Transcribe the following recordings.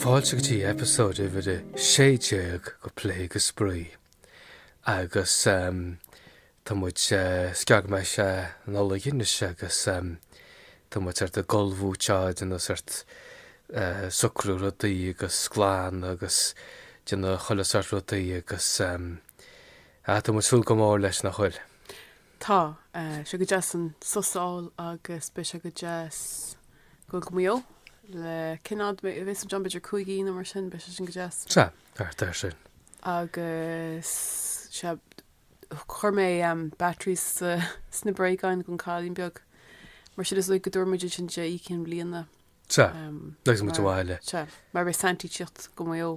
Fáilte go dtí eipeasóid uimhir a sé déag go Plé go Spraoi. Agus tá muid scaitheamh ón Nollaig anois agus tá muid sort ag gabháil, muid ag déanamh sort socrú rudaí agus ag glanadh agus ag déanamh chuile sort rudaí agus Tá muid ag súil go mór leis nach bhfuil. Tá. Tá sé go deas an sos a fháil agus beidh sé go deas go go Maigh Eo le cén fhad a bheas muid ann b'fhéidir cúig oíche nó mar sin beidh sé sin go deas. Sea, thart air sin. Agus sea, chuir mé batteries sna bréagáin gon cailín beag mar sin is dóigh go dtabharfaidh muid iad sin di Oíche Chinn Bliana. Sea, agus muid sa bhaile. Sea, mar beidh Santaí ag tíocht go Maigh Eo.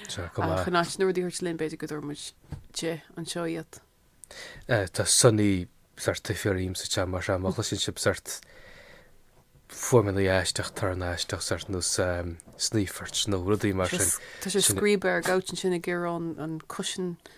Sea, chomh maith. In áit na rudaí a thabhairt linn b'fhéidir go dtabharfaidh muid di anseo iad. Tá Sonny ag sórt tafann orainn sa seomra seo, má chloiseann sibh sort fuaimeanna aisteach, torann aisteach sort nós snaoisíl nó rudaí mar sin. Tá sé ag scríobadh ar an gcouch ansin ag iarraidh an cushion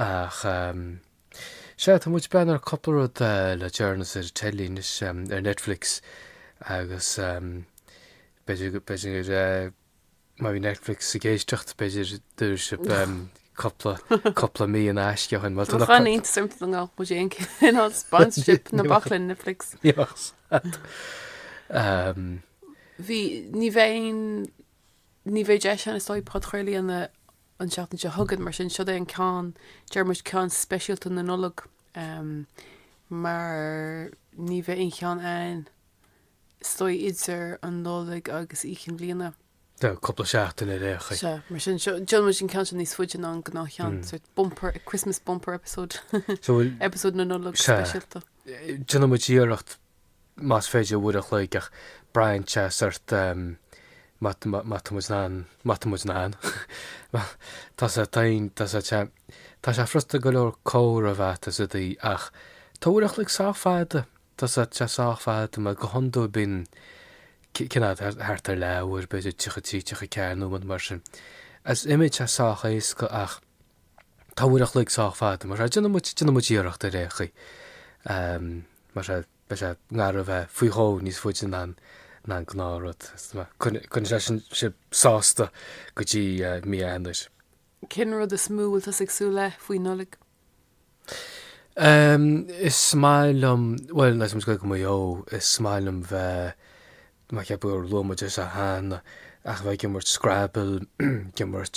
Ach sea, tá muid ag breathnú ar cúpla rud le deireanas ar teilí anois, ar Netflix agus b'fhéidir gur má bhí Netflix ag éisteacht b'fhéidir go dtabharfadh sibh cúpla cúpla mí in aisce dhúinn. Tá an aontas iontach na nGall, muid éinne ag cineál sponsorship na bach le Netflix. Bhí, ní bheidh Ní bheidh deis ann is dóigh podchraoladh a dhéanamh an seachtain seo chugainn, mar sin seo é an ceann, deir muid ceann speisialta na Nollag, mar ní bheidh aon cheann ann is dóigh idir an Nollaig agus Oíche Chinn Bliana. Tá cúpla seachtain ar aon chaoi. Sea, mar sin seo, déanfaidh muid an ceann seo níos faide ná an gnáth cheann, sórt bumper, Christmas bumper episode, episode na Nollag speisialta. Déanfaidh muid iarracht más féidir, uair an chloig ach braitheann sé sort má má tá muid in ann má tá muid in ann tá sé tá aon tá sé sé tá sé furasta go leor cuid mhaith a dhéanamh ach tá uair an chloig sách fada tá sé sé sách fada mar go hiondúil bíonn cineál thart ar leathuair b'fhéidir 33 34 nóiméad mar sin is dóigh, tá sé sách éasca ach Tá uair a chloig sách fada, mar sin, déanfaidh muid iarracht ar aon chaoi, mar sin, beidh sé i ngar a bheith faoi dhó níos faide ná an gnáth rud, coinneoidh sé sin sibh sásta go dtí mí Eanáir. Cén rud is mó a bhfuil tusa ag súil le faoi Nollaig? Is maith liom, bhuel, agus muid ag dul go Maigh Eo, is maith liom bheith, mar ceapaim gur luaigh muid é seo cheana, ach bheith ag imirt Scrabble, ag imirt.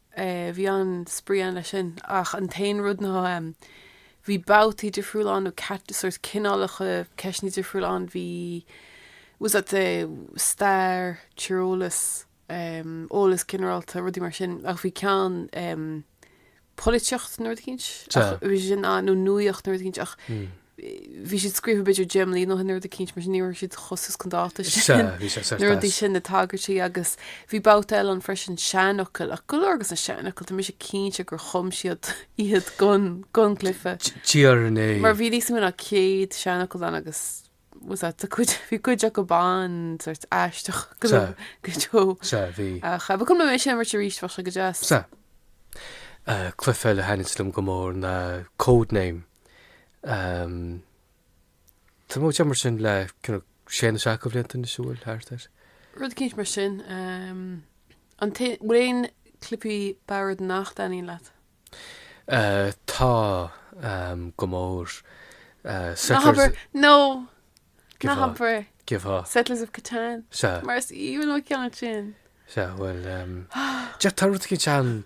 Bhí an-spraoi ann leis sin ach an t-aon rud ná bhí babhtaí difriúla ann nó cat- sort of cineálacha ceisteanna difriúla ann. Bhí was that the stair, tíreolas, em, eolas ginearálta, rudaí mar sin. Ach bhí ceann em polaitíocht nó rud éicint. Sea. Ach bhí sé sin ann, nó nuaíocht nó rud éicint ach bhí siad scríofa b'fhéidir deich mbliana ó shin rud éicint mar sin, ní raibh siad chomh suas chun dáta sin. Sea, bhí sé certas. Na rudaí sin, na tagairtí agus bhí babhta eile ann freisin, seanfhocail, ach go leor agus na seanfhocail, tá mise cinnte gur chum siad iad gon, gon gcluife. Déarfainn é. Mar bhí níos mó ná céad seanfhocal ann agus was that, tá cuid, bhí cuid acu beagán, sort aisteach go, Sea. go deo. Sea, bhí. Ach ba chuma liom é sin a imirt arís, bheadh sé go deas. Sea. Cluife eile a thaitnigh liom go mór ná Codename. Tá muid ag imirt sin le sé nó seacht de bhlianta anois an bhfuil, thart air. Rud eicínt mar sin. An bhfuil aon chluifí boird nach dtaitníonn leat? Tá, go mór. Settlers of Catan. Nó, ná habair. Go háirid. Settlers of Catan. Sea. Mar is aoibhinn an ceann sin. Sea, bhuel, tá rud eicínt ann.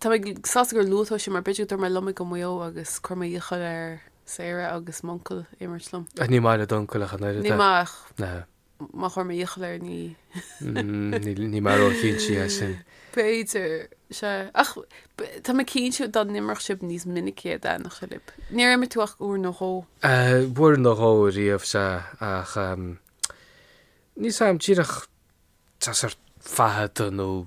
Tá mé sásta gur luaigh tú é sin mar b'fhéidir go dtabharfadh mé liom é go Maigh Eo agus cuirfidh mé iachall ar Sarah agus m'uncail imirt liom. Ach ní maith le d'uncail ach an oiread é. Ní maith ach má chuir mé iachall air ní. Ní mar ó chin sí é sin. B'fhéidir, sea. Ach tá mé cinnte dá n-imreodh sibh níos minicí é go dtaitneodh sé lib. Níor imir tú ach uair nó dhó. Uair nó dhó riamh, sea. Ach níl a fhios agam díreach tá sé sách fada nó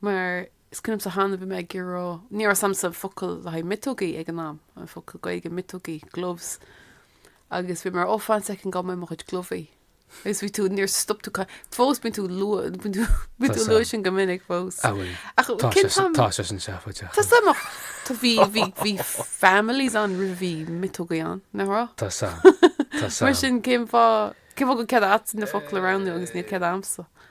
Mar is cuimhin liomsa cheana bhí mé ag rá, ní raibh a fhios agamsa an focal le haghaidh miotógaí ag an am, an focal Gaeilge miotógaí, gloves, agus bhí mé ar, ó fan soicind go bhfaighidh mé mo chuid gluvaí. Agus bhí tú, níor stop tú, fós bíonn tú lua, bíonn tú, bíonn tú ag lua sin go minic fós. Ah oui, Ach tá cén sé sin, fam, tá sé sin seafóid, tá a fhios agam ach tá bhí, bhí, bhí families ann roimh a bhí miotógaí ann, nach raibh? Tá a fhios agam, tá a fhios agam. Mar sin cén fáth, cén fáth go bhfuil cead agat na focla a roghnú agus níl cead agamsa?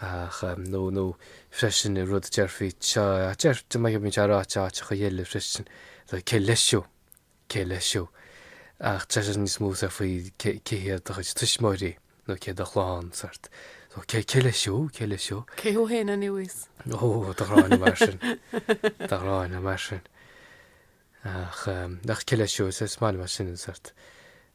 ach, nó, nó freisin i rud a déarfaí cha deir de maith bíonn sé ráite áiteacha eile freisin le cé leis thú cé leis thú ach tá sé níos mó sa faoi cé cé hiad do chuid tuismitheoirí nó cé do chlann sort so cé cé leis thú cé leis thú cé thú féin anois ó tá an ghráin agam air sin tá an ghráin agam air sin Ach, ach cé leis siúd? Is maith liom é sin, an sórt.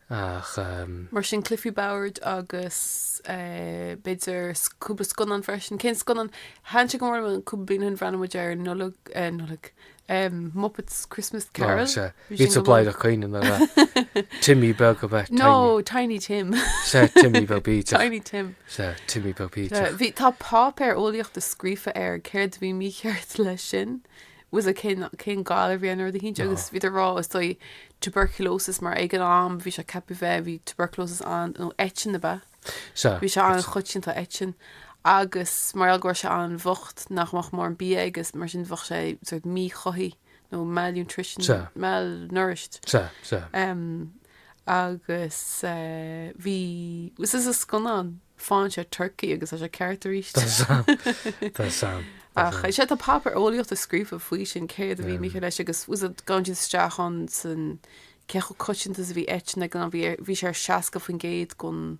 Ach, ach. Mar sin, clifí, bó-airde agus b'fhéidir cúpla scannán freisin. Cén scannán? Thaitin sé go mór liom cúpla bliain ó shin, bhreathnaigh muid ar Nollaig, eh Nollaig, em Muppets Christmas Carol. Carol, sea. Bhí sin go maith. Bhí tú ag caoineadh nuair a Timmy beag a bheith Tiny. No, Tiny Tim. Sea, Timmy beag bídeach. Tiny Tim. Sea, Timmy beag bídeach. Bhí, tá páipéar eolaíochta scríofa air, céard a bhí mícheart leis sin? ós a cén cén galar a bhí air nó rud eicínt agus bhíodar ag rá is dóigh tuberculosis mar ag an am bhí sé ceaptha a bheith bhí tuberculosis ann nó eitinn ab ea Sea, bhí sé an-choitianta eitinn agus mar gheall go raibh sé an-bhocht nach mbeadh mórán bia aige is mar sin bheadh sé sort of míchothaithe nó malnutrition, sea, malnourished. sea, sea. Em, agus bhí is sa scannán faigheann sé turcaí agus tá sé ceart arís. Tá a fhios agam. Tá a fhios agam. Ach sea tá páipéar eolaíochta scríofa faoi sin céard a bhí mícheart leis agus ós a gabhann siad isteach ann san cé chomh coitianta is a bhí eitinn go bhí bhí sé ar 60% gon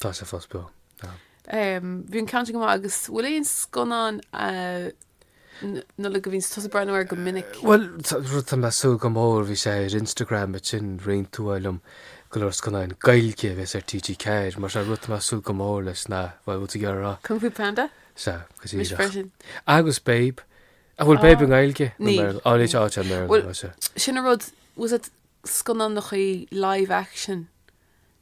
Tá sé fós beo. Bhí an ceann sin go maith agus bhfuil aon scannán Nollaig a bhíonns tusa ag breathnú air go minic? Bhuel, rud tá mé súil go mór bhí sé ar Instagram is roinn tú é liom go leor scannán Gaeilge a bheas ar TG4 mar sin rud tá mé súil go mór leis ná bhfuil tú ag rá Kung Fu Panda? Sea, go díreach. Agus Babe. An bhfuil Babe i Gaeilge? Ní. Áilíte áit an méir. Sin a rud ós é scannán nach í live action?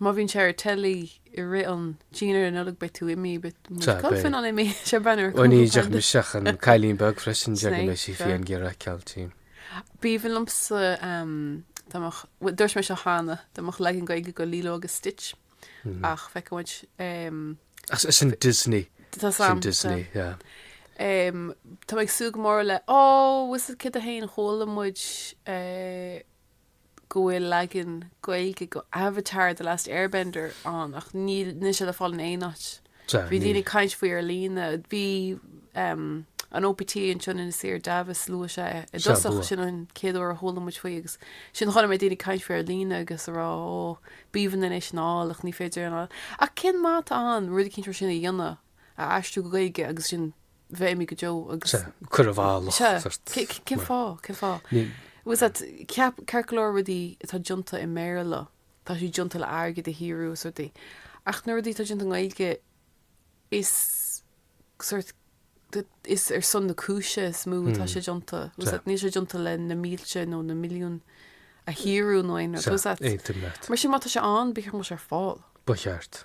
Má bhíonn sé ar teilí i rith an dinnéir an Nollaig beidh tú imithe, beidh muid Tá, beidh. Colfin ann imithe, ag breathnú air Ó ní, cúpla deich pound. mise ach an cailín beag freisin, déarfaidh Snape, mé sí sure. féin ghabháil ar ceal, tuigim. B'aoibhinn liomsa ehm, dá mbeadh, bhuel dúirt mé seo cheana, dá mbeadh leagan Gaeilge go Lilo agus Stitch ach feicfidh muid ehm, Ach is sin Disney, tá is tá a fhios agam, tá. Disney, yeah. Ehm, tá mé ag súil go mór le, oh, ós cad é an ceann chuala muid eh, go bhfuil leagan Gaeilge go Avatar, The Last Airbender ann ach níl níl sé le fáil in aon áit. Sea, Bhí daoine níl. ag caint faoi ar líne. Bhí em, an OPT ansin in Sewer Davis luaigh sé i Sea, dtosach luath. sin an chéad uair a chuala muid faoi agus ansin chuala mé daoine ag caint faoi ar líne agus a rá ó b'aoibhinn linn é sin a fháil ach ní féidir é a fháil. Ach cén mhaith atá ann rud eicínt mar sin a dhéanamh, é a aistriú go Gaeilge agus ansin bheith imithe go deo agus. sea, cur i bhfolach sea, a dhoirt. cé, cén mar. fáth, cén fáth? Ní. Ós rud, ceap, ceart go leor rudaí atá deonta i mBéarla, tá siad deonta le airgead a shaothrú is rudaí. Ach na rudaí atá deonta i nGaeilge, is sort, t- is ar son na cúise is mó atá sé deonta. Was Sea. that, níl sé deonta le na mílte nó na milliúin a shaothrú nó aon rud. sea, Was that, aontaím leat. mar sin má tá sé ann, b'fhearr go mbeadh sé ar fáil. Ba cheart.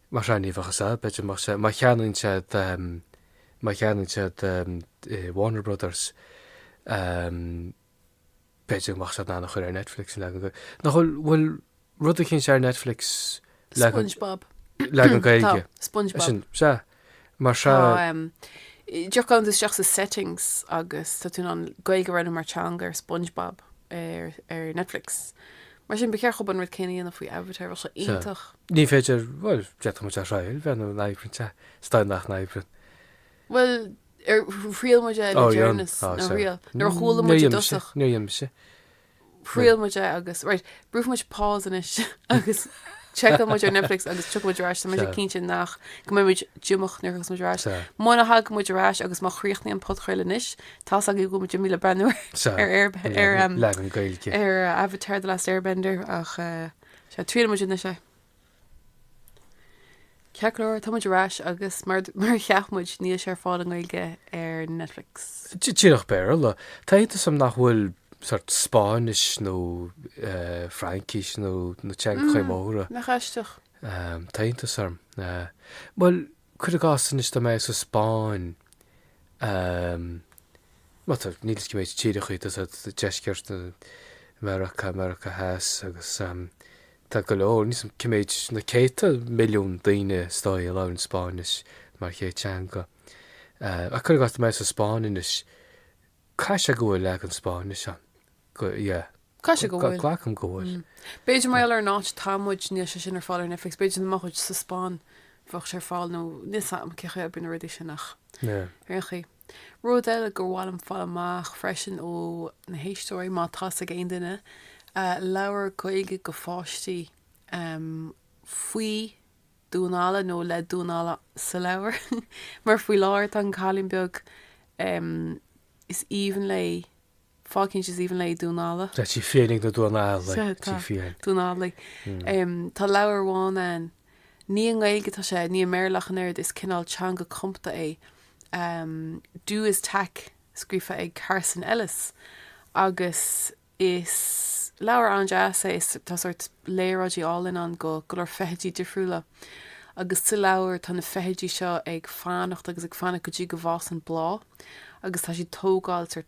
Mar sea, ní bheadh 's agat, b'fhéidir, más ea, má cheannaíonn siad, má cheannaíonn siad Warner Brothers, b'fhéidir go mbeadh siad in ann a chur ar Netflix an leagan Gaeilge. Nach bhfuil, bhfuil rud eicínt ar Netflix, leagan, Spongebob. leagan Tá, Gaeilge? Spongebob. Sin, sea. mar Tá sea. téann tú isteach sa settings agus tá tú in ann Gaeilge a roghnú mar teanga ar Spongebob ar ar Netflix. Mar sin, ba cheart dhób an rud céanna a dhéanamh faoi Avatar, bheadh sé Sea. iontach. Ní féidir, bhuel, d'fhéadfadh muid a thriail b'fhéidir go n-oibríonn sé, is dóigh nach n-oibríonn. Bhuel, ar thriail muid é le Ó, dhearnas, dhearnas, á, nó sea. thriail, nuair a chuala muid i Níor dhéanadh mise, dtosach. níor dhéanadh mise. Thriail muid é agus, right, brúfaidh muid pause anois agus seiceálfaidh muid ar Netflix agus tiocfaidh muid ar ais, tá muid cinnte nach, go mbeidh muid díomách nuair a thiocfas muid ar ais. Sea. Muna thagann muid ar ais agus má chríochnaíonn an podchraoladh anois, tá 's agaibh go bhfuil muid imithe le breathnú ar, Sea. ar Air, ar, Leagan Gaeilge. ar Avatar The Last Airbender ach, eh, sea, triailfidh muid anois é. Ceart go leor, tá muid ar ais agus mar a cheap muid níl sé ar fáil i nGaeilge ar Netflix. Díreach Béarla. Tá iontas orm nach bhfuil sort Spáinnis nó Fraincis nó na teangachaí móra. Nach aisteach. Tá iontas orm. Bhuel, cuir i gcás anois dá mbeadh sa Spáinn, mar tá, níl fhios cé mhéad tíreachaí atá sa deisceart, Meiriceá, Meiriceá Theas agus Tá go leor níl fhios cé mhéad, na céadta milliún daoine is dóigh, a labhrann Spáinnis mar chéad teanga. Ach cuir i gcás, tá mé sa Spáinn anois, caithfidh sé go bhfuil leagan Spáinnis ann, go, yeah. Caithfidh sé go bhfuil. Glacaim go bhfuil. B'fhéidir mar gheall ar an áit atá muid, níl sé sin ar fáil ar Netflix, b'fhéidir dá mbeadh muid sa Spáinn, bheadh sé ar fáil nó níl 's agam cé chaoi a oibríonn na rudaí sin ach ar aon chaoi, Rud eile gur mhaith liom fáil amach freisin ó na héisteoirí, má tá's ag aon duine leabhar Gaeilge do pháistí faoi damhán alla nó le damhán alla sa leabhar, mar faoi láthair tá an cailín beag is aoibhinn léi, fáth eicínt is aoibhinn léi damhán alla. Tá sí féinig na damhán alla. Tá, tá. Damhán alla. Um, tá leabhar amháin ann, ní i nGaeilge atá sé, ní i mBéarla ach an oiread, is cineál teanga cumtha é. Um, Du Iz Tak, scríofa ag Carson Ellis. Agus is leabhar an-deas é, is tá sort léaráidí álainn ann de go leor feithidí difriúla. Agus sa leabhar tá na feithidí seo ag fanacht agus ag fanacht go dtí go bhfásann bláth agus tá siad ag tógáil sort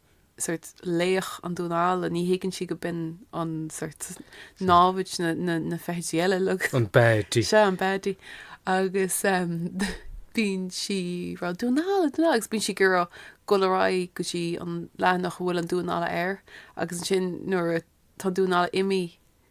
sórt, laoch é an damhán alla, ní thuigeann sí go b'in an, sórt, námhaid na feithidí eile uilig. An baddie. Sea, an baddie. Agus bíonn sí ag rá, damhán alla, damhán alla, agus bíonn sí ag iarraidh dul ar aghaidh go dtí an leathanach a bhfuil an damhán alla air agus ansin nuair a, tá an damhán alla imithe,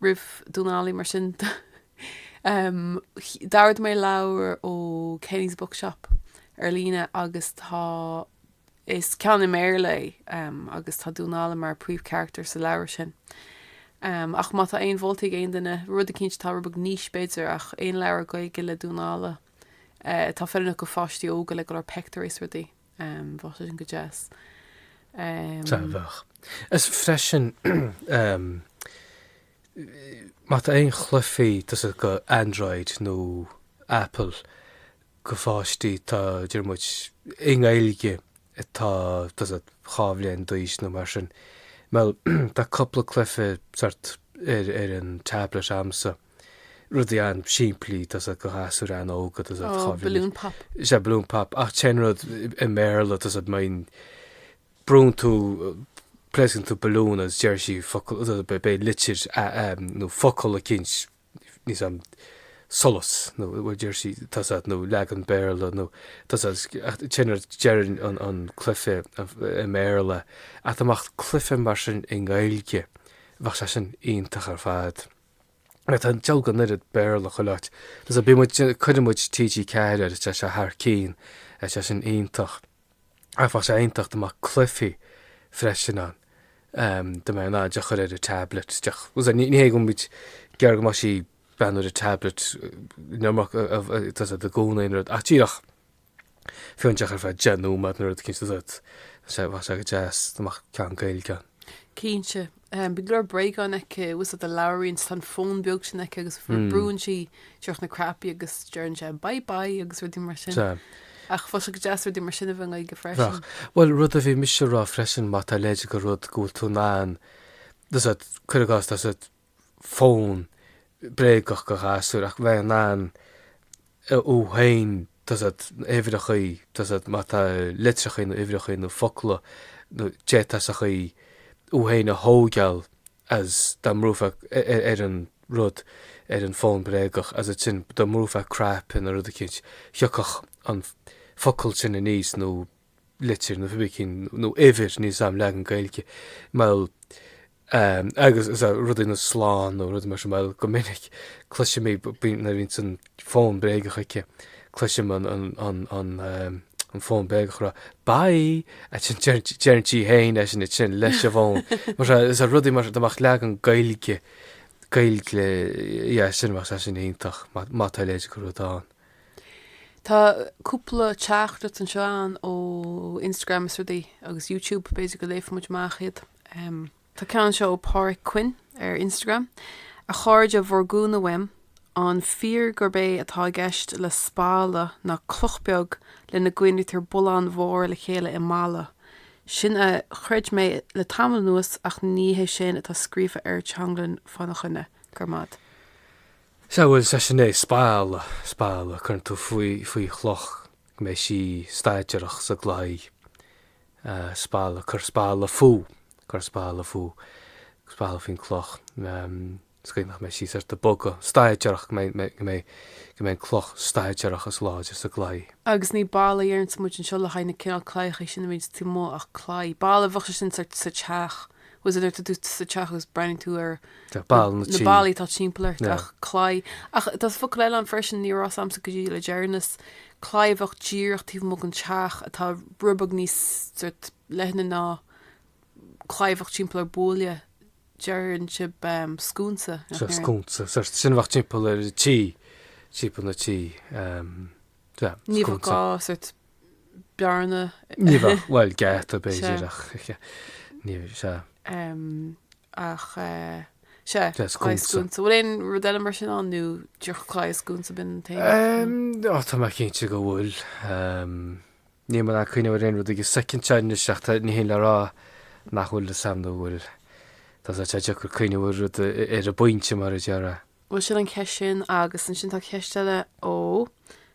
roimh Dhónall Óg, mar sin, d'ordaigh mé leabhar ó Kenny's Bookshop ar líne agus tá. Is ceann i mBéarla é agus tá Dónall Óg mar príomhcharactar sa leabhar sin. Ach má tá aon mholtaí ag aon duine, rud eicínt atá róbheag anois b'fhéidir, ach aon leabhar Gaeilge le Dónall Óg atá feiliúnach do pháistí óga le go leor peictiúirí is rudaí. Bheadh sin go deas. Bheadh. Is freisin, má tá aon chluichí, tá's agat, do Android nó Apple, do pháistí, atá, déarfaidh muid, i nGaeilge atá, tá's agat, dhá bhliain d'aois nó mar sin. Bhuel, tá cúpla cluiche sórt ar an tablet a'msa. Rudaí an-simplí, tá's agat, do ghasúir an-óga, tá's agat, balloon pop. Sea, balloon pop, ach tá an rud i mBéarla, tá's agat, má bhrúnn, brúnn tú, pléascann tú balloon agus deir sí focal, tá's agat, beidh, beidh litir a, a, nó focal eicínt, níl a fhios a'm, solas, nó, bhuel, deir sí, tá's agat, nó leagan Béarla, nó, tá's agat, agus, ach tá an rud, deireann an, an cluife i mBéarla, ach dá mbeadh cluife mar sin i nGaeilge, bheadh sé sin iontach ar fad. Tá a dhalladh, an oiread Béarla chuile áit. Tá's agat, bíonn muid, cuireann muid TG4 air, tá sé thar cinn, tá sé sin iontach. Ach bheadh sé iontach dá mbeadh cluifí freisin ann, dá mbeinn in ann í a chur ar an tablet. Is ní hé go bhfuil muid ag iarraidh go mbeadh sí beo ar an tablet, nó ach, tá's agat, i gcónaí ná rud. Ach díreach. Fiú díreach ar feadh 10 nóiméad nó rud eicínt, tá's agat, bheadh sé bheadh sé go deas dá mbeadh ceann Gaeilge ann. Cinnte. Bíonn go leor bréagáin aici, tá's agat, a labhraíonn, tá an fón beag sin aici agus brúnn sí díreach na cnaipí agus deireann sé bye bye agus rudaí mar sin. Sea. Ach bheadh sé go deas rudaí mar sin a bheith i nGaeilge freisin. Bheadh. Bhuel, rud a bhí mise a rá freisin, má tá a leithéid de rud go bhfuil tú in ann, tá's agat, cuir i gcás, tá's agat, fón bréagach do ghasúir ach bheith in ann thú féin uimhreacha má tá litreacha nó uimhreacha nó focla nó dátaí is eile thú féin a thógáil is dá mbrúfá ar an rud ar an bhfón bréagach is ansin dá mbrúfá cnaipe nó rud eicínt thiocfadh an focal sin aníos nó litir nó pé ar bith cén nó uimhir níl a fhios a'm, leagan Gaeilge, bhuel, agus is rudaí nó slán nó rudaí mar sin, bhuel, go minic cloisim í nuair a bhíonns an fón bréagach aici. Cloisim an an fón bréagach a rá Bye! ansin deireann sí fhéin é sin ansin leis an bhfón. Mar seo is rudaí mar dá mbeadh leagan Gaeilge Gaeilge de sin, bheadh sé sin iontach má tá a leithéid de rud ann. Tá cúpla teachtaireacht anseo a'inn ó Instagram is rudaí agus YouTube, b'fhéidir go léifidh muid amach iad. Em. Tá ceann anseo ó Páraic Quinn ar Instagram, A chairde bhur gcúnamh uaim, an fíor gurb é atá i gceist le spalla ná cloch beag lena gcoinnítear bulláin mhóra le chéile i mballa? Sin a chreid mé le tamall anuas ach ní hé sin atá scríofa ar Teanglann fána choinne. Grma. Sea, bhuel, sea, sin é, spalla, spalla, cuireann tú faoi, faoi chloch go mbeidh sí staidéarach sa gclaí, spalla, cuir spalla fúithi, cuir spalla fúithi, spalla faoin gcloch, sa gcaoi nach mbeidh sí thart ag bogadh, staidéarach, go mbeidh, go mbeidh, go mbeidh an cloch staidéarach is láidir sa gclaí. Agus ní balla a deireanns muid anseo le haghaidh na cineál claíochaí sin a bhíonns taobh amuigh ach claí, balla a bheadh sé sin sa teach, má tá tú sa teach agus breathnaíonn tú ar na ballaí atá timpeall ort ach claí ach tá focail eile ann freisin ní raibh a fhios agamsa go dtí le deireanas claí a bheadh díreach taobh amuigh den teach atá roinnt bheag níos leithne ná claí a bheadh timpeall ar buaile deireann siad scúnsa scúnsa sin a bheadh timpeall an tí timpeall an tí ní bheadh bearna. Ní bheadh, bhuel, geata b'fhéidir ach sea, ní, sea. Ach sea, Sea, scúnsa. scúnsa. Bhfuil aon rud eile mar sin ann nó dearcadh scúnsa binn an taobh? Ó, tá mé cinnte go bhfuil. Níl mé in ann cuimhniú ar aon rud ag an soicind seo anois ach tá, ní hé le rá nach bhfuil tá a fhios a'm go bhfuil. Tá sé sách deacair cuimhniú ar rud ar an bpointe mar a déarfá. Bhuel sin an cheist sin agus ansin tá ceist eile ó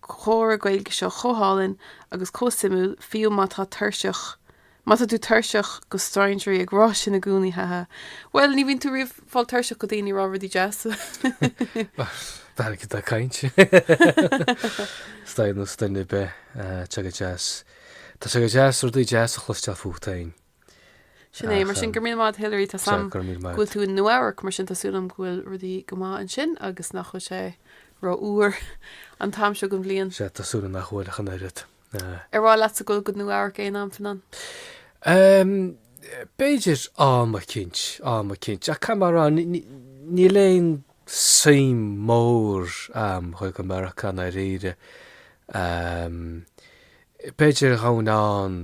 comhrá Gaeilge seo chomh hálainn agus chomh suimiúil, fiú má tá tuirseach, má tá tú tuirseach de strainséirí ag rá sin i gcónaí, ha ha. Bhuel, ní bhíonn tú riamh fáil tuirseach de daoine ag rá rudaí deas. Dar ag do caint. Staid nó stuinn ar bith, tá sé go deas. Tá sé go deas rudaí deas a chloisteáil fút féin. Sin é, mar sin, go raibh míle maith agat Hilary, tá a fhios a'm go bhfuil tú in Nua Eabhrac, mar sin tá súil agam go bhfuil rudaí go maith ansin agus nach bhfuil sé ró fhuar an t-am seo den bhliain. Sea, tá súil agam nach bhfuil ach an oiread. Ar mhaith leatsa a ghoil go Nua Eabhrac aon am, Fionán? B'fhéidir, am eicínt, am eicínt, ach mar a déarfá, níl aon suim mhór a'm a ghoil go Meiriceá, i ndáiríre. B'fhéidir ghabhfainn ann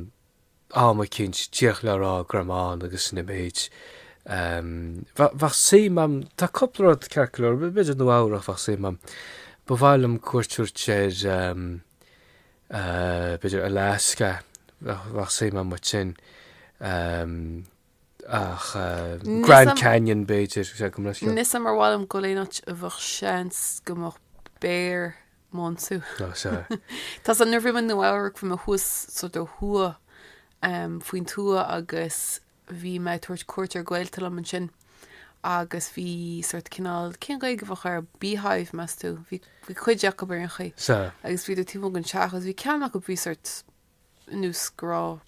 am eicínt, d'fhéach le rá greamán agus noiméid, bheadh suim agam, tá cúpla rud ceart go leor, b'fhéidir Nua Eabhrac, bheadh suim agam, ba mhaith liom cuairt a thabhairt ar, b'fhéidir Alaska, bheadh suim agam uait sin. Ach Grand Canyon, b'fhéidir, sé go mbruscair. Níl a fhios a'm ar mhaith liom a ghoil in aon áit a bheadh seans go mbeadh béar do m'ionsú. Ná sea. Tá a fhios a'd nuair a bhí mé i Nua-Eabhrac bhí mé thuas sort ó thuaidh faoin tuath agus bhí mé ag tabhairt cuairt ar gaolta liom ansin agus bhí sort cineál cén Ghaeilge a bheadh air? Beehive meas tú? Bhí cuid acu ar aon chaoi. Sea. Agus bhíodar taobh amuigh den teach agus bhí ceann acu bhí sort nós go raibh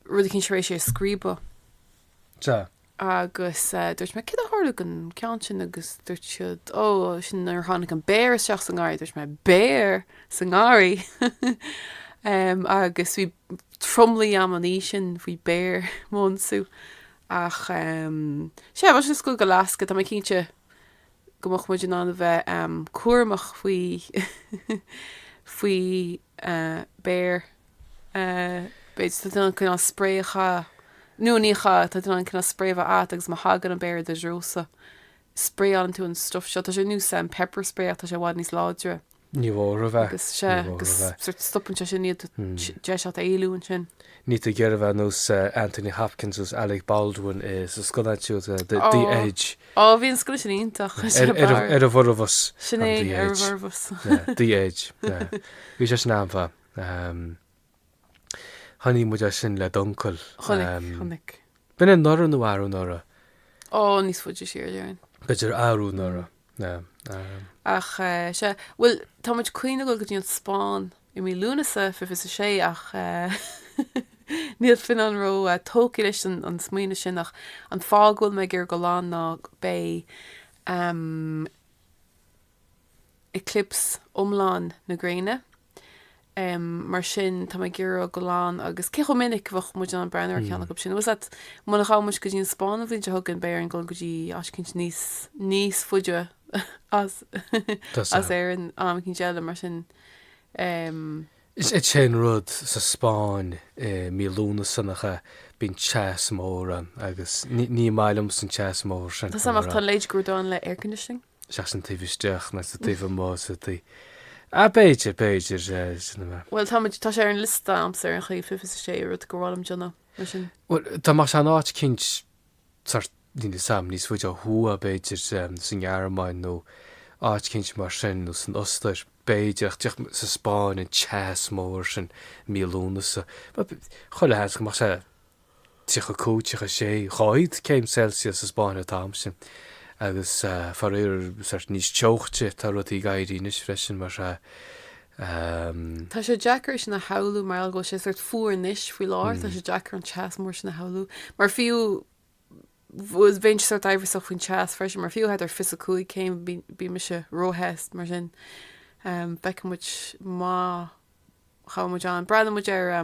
rud eicínt tar éis é a scríobadh. Sea. Agus dúirt mé, céard a tharla don ceann sin agus dúirt siad, ó, sin nuair a tháinig an béar isteach sa ngarraí. Dúirt mé, béar sa ngarraí! Agus bhí tromluí a'm an oíche sin faoi bhéar do m'ionsú. Ach sea, bhí muid ag goil go Alaska, tá mé cinnte go mbeadh muid in ann a bheith cúramach faoi. béir, b'fhéidir, tá tú in ann cineál spréacha, nó ní hea, tá tú in ann cineál spré a bheith agat agus má thagann an béar i do threosa, spréálann tú an stuff seo. Tá sé nós, am, pepper spray ach tá sé i bhfad níos láidre. Níor mhór a bheith. Agus sea, agus sort stopann sé sin iad deis agat éalú ansin. Níl tú ag iarraidh a bheith nós Anthony Hopkins nós Alec Baldwin insa scannán úd, The Edge. Ó, bhí an scannán sin iontach. Chuir sé Ar, ar, ar a bhformheas. Sin é, ar a bhformheas. The Edge. Bhí sé sin an-mhaith. Chonaic muid é sin le d'uncail. Chonaic, chonaic. B'in anuraidh nó arú anuraidh? Ó, níos fuide siar déarfainn. B'fhéidir arú anuraidh. Ach eh, sea, bhuel tá muid chun a ghoil go dtí an Spáinn. i mí Lúnasa fiche is a sé ach níl Fionnán róthógtha leis an smaoineamh sin ach an fáth go bhfuil mé ag iarraidh a ghoil ann ná beidh eclipse iomlán na gréine mar sin tá mé ag iarraidh a ghoil ann agus cé chomh minic a bheadh muid in ann breathnú ar cheann acu sin bhfuil a fhios a'd muna ghabh muid go dtí an Spáinn an bhliain seo chugainn beidh orainn a ghoil go dtí áit eicínt níos níos faide as as Éirinn am eicínt eile mar sin Ehm. Is é an rud sa Spáinn i mí Lúnasa nach ea, bíonn teas mór ann agus ní maith liomsa an teas mór sin. Tá a fhios a'm ach tá a leithéid de rud ann le air conditioning. Sea ach sin taobh istigh ná sa taobh amuigh sa taobh. Ah b'fhéidir, b'fhéidir, sin an mbeadh. Bhuel táimid, tá sé ar an liosta a'msa ar aon chaoi 26 rud gur mhaith liom a dhéanamh mar sin. Bhuel dá mba in áit eicínt. thart níl a fhios a'm, níos faide ó thuaidh b'fhéidir sa nGearmáin nó áit eicínt mar sin nó san Ostair b'fhéidir ach sa Spáinn an teas mór sin mí Lúnasa, chuile sheans go mbeadh sé 35, 36, 40 céim Celsius sa Spáinn an t-am sin agus faraor níos teochte atá rudaí ag éirí anois freisin mar an. Tá sé deacair é sin a shamhlú mar gheall go bhfuil sé sort fuar anois faoi láthair, tá sé deacair an teas mór sin a shamhlú. Mar fiú, bh, bhéinn sé sort aimhreasach faoin teas freisin, mar fiú thar fiche 5 céim bí, bíonn mise róthe, mar sin feicfidh muid má théann muid ann. Breathnaigh muid ar.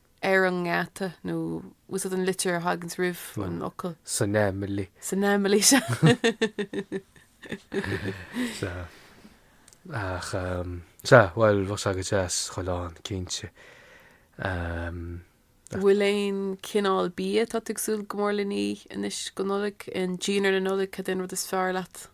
ar an ngeata nó úsáid an litir a thaganns roimh an fhocal. san fhaimilí. san fhaimilí seo. Sea. Ach, sea, bhuel, bheadh sé agat deas chomh lán, cinnte. An bhfuil aon chineál bia atá tú ag súil go mór lena ithe anois go Nollaig, i ndinnéar na Nollag, cad é an rud is fearr leat?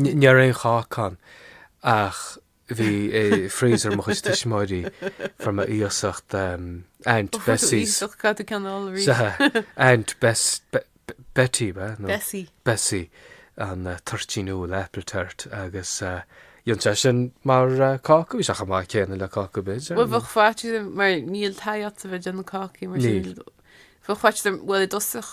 Ní raibh aon cháca ann, ach bhí i freezer mo chuid tuismitheoirí fuair mé iasacht Aunt Bessie's, sea, Aunt Betty, Bessie, an toirtín úll, apple tart, agus rinne sé sin mar cáca, bhí sé chomh maith céanna le cáca b'fhéidir. Bhuel, bheadh faitíos orm, mar níl taithí a'dsa bheith déanamh cácaí mar sin, bheadh faitíos orm, bhuel i dtosach,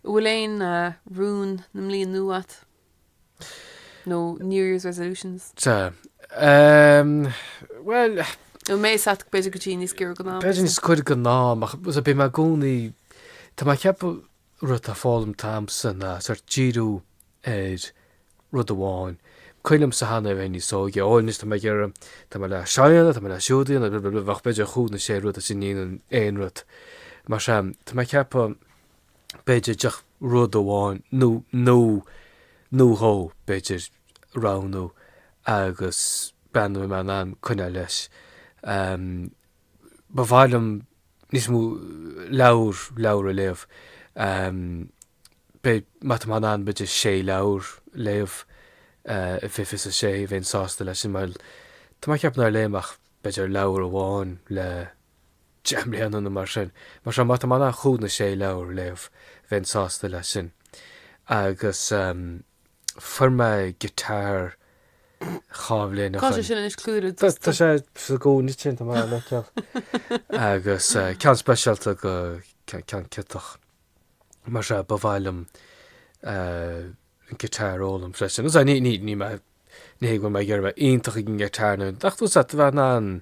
An bhfuil aon rún na mbliana nua agat? Nó New Year's Resolutions? Sea. Ehm, bhuel, Nó mé is ait b'fhéidir go dtí níos giorra go ná. b'fhéidir níos cuir go ná, ach bím i gcónaí, tá mé ceapadh rud atá foghlamtha a'msa ná sort díriú ar rud amháin. Ciall a'msa cheana a bheith níos óige. Bhuel anois tá mé ag iarraidh, tá mé le seo a dhéanamh, tá mé le siúd a dhéanamh, blablabla, ach b'fhéidir cúig nó sé rud is ní dhéanann aon rud. Mar sin, tá mé ceapadh, b'fhéidir, díreach rud amháin nó nó nó dhó, b'fhéidir, a roghnú agus breathnú an mbeadh mé in ann coinneáil leis. Ba mhaith liom níos mó leabhar leabhar a léamh. B'fhéidir má tá mé in ann b'fhéidir sé leabhar a léamh i fiche fiche a sé, bheinn sásta leis sin mar tá mé ag ceapadh nár léigh mé ach b'fhéidir leabhar amháin le deich mbliana nó mar sin. Mar sin, má tá mé in ann cúig nó sé leabhar a léamh, bheinn sásta leis sin. Agus fuair mé guitar dhá bhliain ó shin. Tá sé sin anois clúdaithe le dusta. Tá sé sa gcúinne sin, tá mé á fheiceáil. Agus eh, ceann speisialta go ce- ceann ciotach. Mar sin, ba mhaith liom eh, an guitar a fhoghlaim freisin. Agus eh, ní, ní, ní mé, ní hé go mbeidh mé ag iarraidh bheith iontach ag an guitar nó, ach tá's a'd, bheith in ann,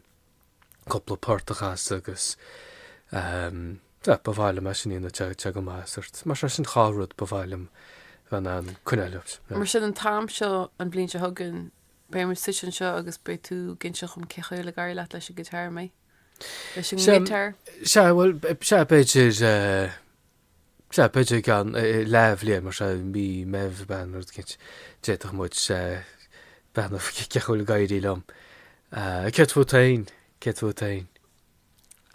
cúpla port a chasadh agus sea, ba mhaith liom é sin a dhéanamh teacht go maith de shórt. Mar sin dhá rud ba mhaith liom bheith in ann coinneáil leis. Mar sin an t-am seo an bhliain seo chugainn, beidh muid suite anseo agus beidh tú ag inseacht dom cén chaoi a bhfuil ag éirí leat leis an ghiotár an ea? Leis an ngiotár? Sea, bhuel, sea, b'fhéidir, eh, sea, b'fhéidir i gceann leathbhliain, mar sea, mí Meitheamh, Bealtaine, rud éicint, d'fhéadfadh muid breathnú cén chaoi a bhfuil ag éirí liom. Céard fút féin? Céard fút féin?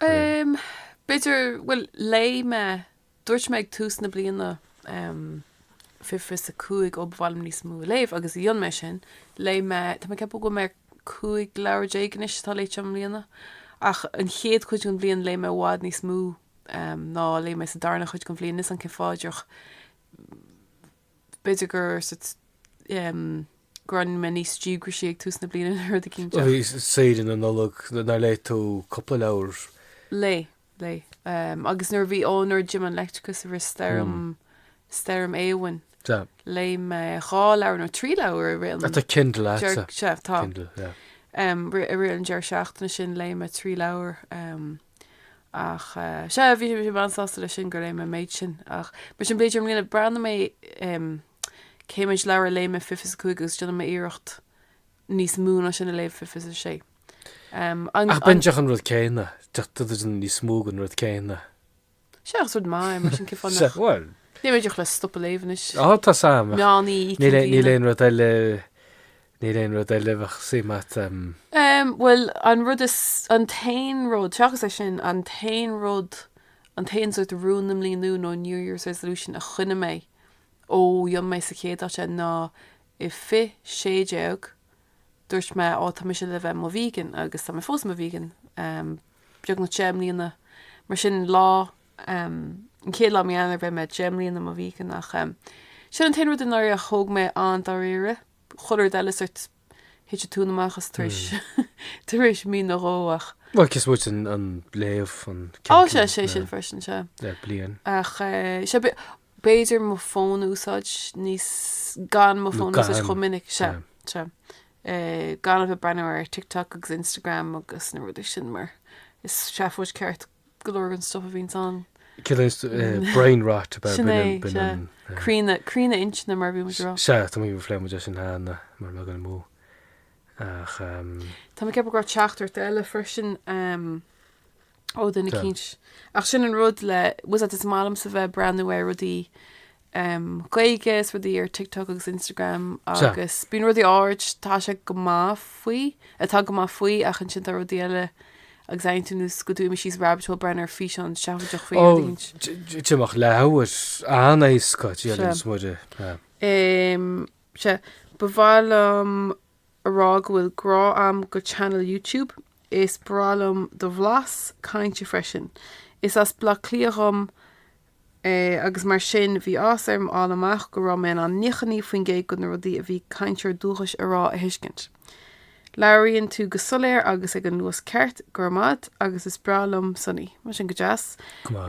B'fhéidir, bhuel, léigh mé, dúirt mé ag tús na bliana, fiche fiche is a cúig, ó ba mhaith liom níos mó a léamh agus dhein mé sin, léigh mé, tá mé ag ceapadh go bhfuil mé ar cúig leabhar déag anois atá léite i mbliana, ach an chéad chuid den bhliain léigh mé i bhfad níos mó. ná a léigh mé sa darna chuid den bhliain, níl a fhios agam cén fáth díreach. B'fhéidir gur gur fhan mé níos díograisí ag tús na bliana nó rud eicínt seo. Saoire na Nollag, nár léigh tú cúpla leabhar? Léigh, léigh. Agus nuair a bhí, ó nuair a d'imigh an leictreachas i rith stoirm, stoirm Éowyn, léigh mé dhá leabhar nó trí leabhar i rith an, Tá Kindle agatsa. Sea, tá. Kindle, yeah. I rith an deireadh seachtaine sin léigh mé trí leabhar. Ach sea, bhí mé an-sásta leis sin gur léigh mé an méid sin. Ach mar sin b'fhéidir i mbliana breathnóidh mé cé mhéid leabhar a léigh mé fiche fiche is a cúig agus déanfaidh mé iarracht níos mó ná sin a léamh fiche fiche is a sé. Ach bainteach an rud céanna, tugtar níos mó den rud céanna. Sea agus rud maith é mar sin cén fáth nach. Bhuel. Níl mé díreach le stopadh ag léamh anois. Á tá a fhios agam. Níl níl aon rud eile níl aon rud eile bheadh suí mat. Um bhuel an rud is an t-aon rud seachas é sin an t-aon rud an t-aon sórt rún na bliana nua nó New Year's Resolution a choinnigh mé ó dhein mé sa chéad áit é ná i 2016 dúirt mé á tá mise le bheith i mo vegan agus tá mé fós i mo vegan um beagnach deich mbliana, mar sin lá, an chéad lá mí Eanáir bheidh mé deich mbliana i mo vegan ach sin an t-aon rud i ndáiríre a thóg mé an-dáiríre, chuile rud eile sórt thit an tóin amach as tar éis tar éis mí nó dhó ach. Bhuel cé is moite den léamh an Ó sea, sé sin freisin sea. le bliain. Ach eh, sea b'fhéidir mo fón a úsáid níos gan mo fón a úsáid chomh minic sea sea gan a bheith ag breathnú ar TikTok agus Instagram agus na rudaí sin mar is seafóid ceart go leor an stuff a bhíonns ann. Cad é eh, brain rot ab ea Sin é, bíonn, bíonn, sea. an, eh, Críonadh, críonadh inchinne mar bhí muid ag rá. Sea, tá mé phléigh muid sin cheana mara bhfuil mé ag dul amú. Ach um, Tá mé ag ceapadh go raibh teachtaireacht eile freisin um, ó dhuine Tá. eicínt. Ach sin an rud le, was that is maith liomsa bheith ag breathnú ar rudaí em, Gaeilge is rudaí ar TikTok agus Instagram Sea. agus bíonn rudaí áirid tá sé go maith faoi, atá go maith faoi ach ansin tá rudaí eile agus airíonn tú ar nós go bhfuil tú imithe síos rabbit hole ag breathnú ar físeán seafóideach faoi Ó, rudaí cinnte. t- t- d'imeodh leathuair, an-éasca, dia Sea. liom is mór de, em. Em, sea, ba mhaith liom a rá go bhfuil grá a'am go channel YouTube, is breá liom do bhlas cainte freisin. Is as Bleá Cliath dhom é agus mar sin bhí áthas orm fháil amach go raibh mé in ann 99% go na rudaí a bhí cainteoirí dúchais a rá a thuiscint. Labhraíonn tú go soiléir agus ag an luas ceart, grma a'd agus is breá liom Sonny. Bhuel sin go deas. Grma.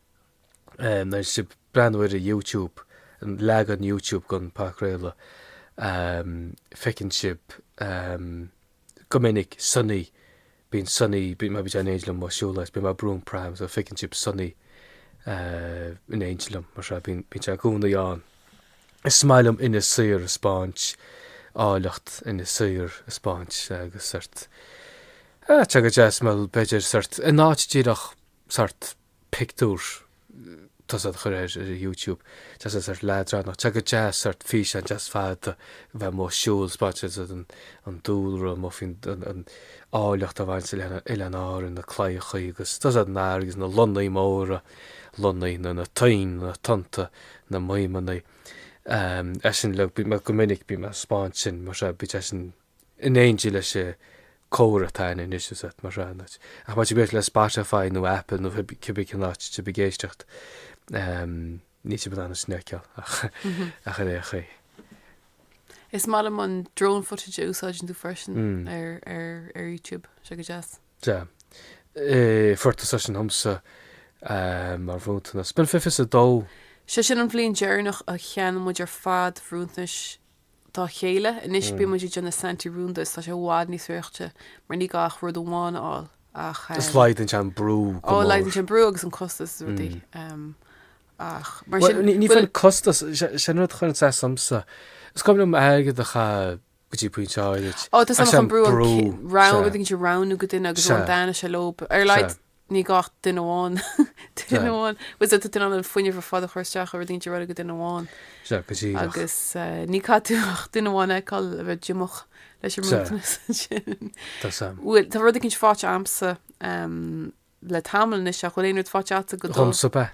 Má tá sib ag breathnú ar YouTube, leagan YouTube gon phodchraoladh, feiceann sib go minic Sonny, bíonn Sonny, bíonn mar bíonn sé in éineacht liom amuigh ag siúl is bíonn mé ag brú an pram so feiceann sib Sonny in éineacht liom mar sin, bíonn sé i gcónaí ann. Is maith liom Inis Oírr a spáint, áilleacht Inis Oírr a spáint agus sort, tá sé go deas, bhuel b'fheidir sort, in áit díreach sort, pictiúr tá's a'd a chur ar YouTube, tá sé sort leadránach tá sé go deas sort físeán deas fada a bheith amuigh ag siúl ag spáint an dúlra amuigh faoin an áilleacht a bhaineas le Oileáin Árann na claíochaí agus tá's a'd an fharraige agus na lonnaí móra lonnaí na na toinn na tonnta na maoimeannaí ehm is ea sin le go minic bíonn mé ag spáint sin mar sin bíonn sé sin in éindí leis an comhrá atá ann anois, mar atá tráthnóna. Ach má tá sibh le Spotify nó Apple nó cibé cén áit tá sibh ag éisteacht, níl sibh in ann é sin a fheiceáil ach ach ar aon chaoi. Is maith liom an drone footage a úsáideann tú freisin ar ar YouTube, sé go deas. Sea. Fuair tusa é sin dhomsa mar bhronntanas. B'in fiche is a dó. Sé sin an bhliain deireanach a cheannaigh muid ar fad bronntanais. dá chéile. Anois bíonn muid ag déanamh Santi rúnda is tá sé i bhfad níos sortáilte mar ní gá ach rud amháin a fháil ach. Is laghdaíonn sé an brú go mór. Ó, laghdaíonn sé an brú agus an costas is rudaí ach mar sin. Bhuel, ní hé fiú an costas, sin rud a chuireann saghas ormsa. Is cuma liom airgead a chaitheamh go dtí pointe áithrid ach is é an brú an ceann. Bhuel, bíonn siad ag roghnú go duine agus rud amháin is ea leo, ar a laghad ní gá ach duine amháin, duine amháin, bhuel tá tú in ann an fuinneamh ar fad a chur isteach ag roghnú rud go duine amháin agus ní gá duit ach duine amháin a fheiceáil a bheith díomách leis an mbronntanas ansin. Bhuel tá rud éicint fáite amsa le tamall anois ach bhfuil aon rud fáite agatsa go dtí seo? Dhomsa ab ea.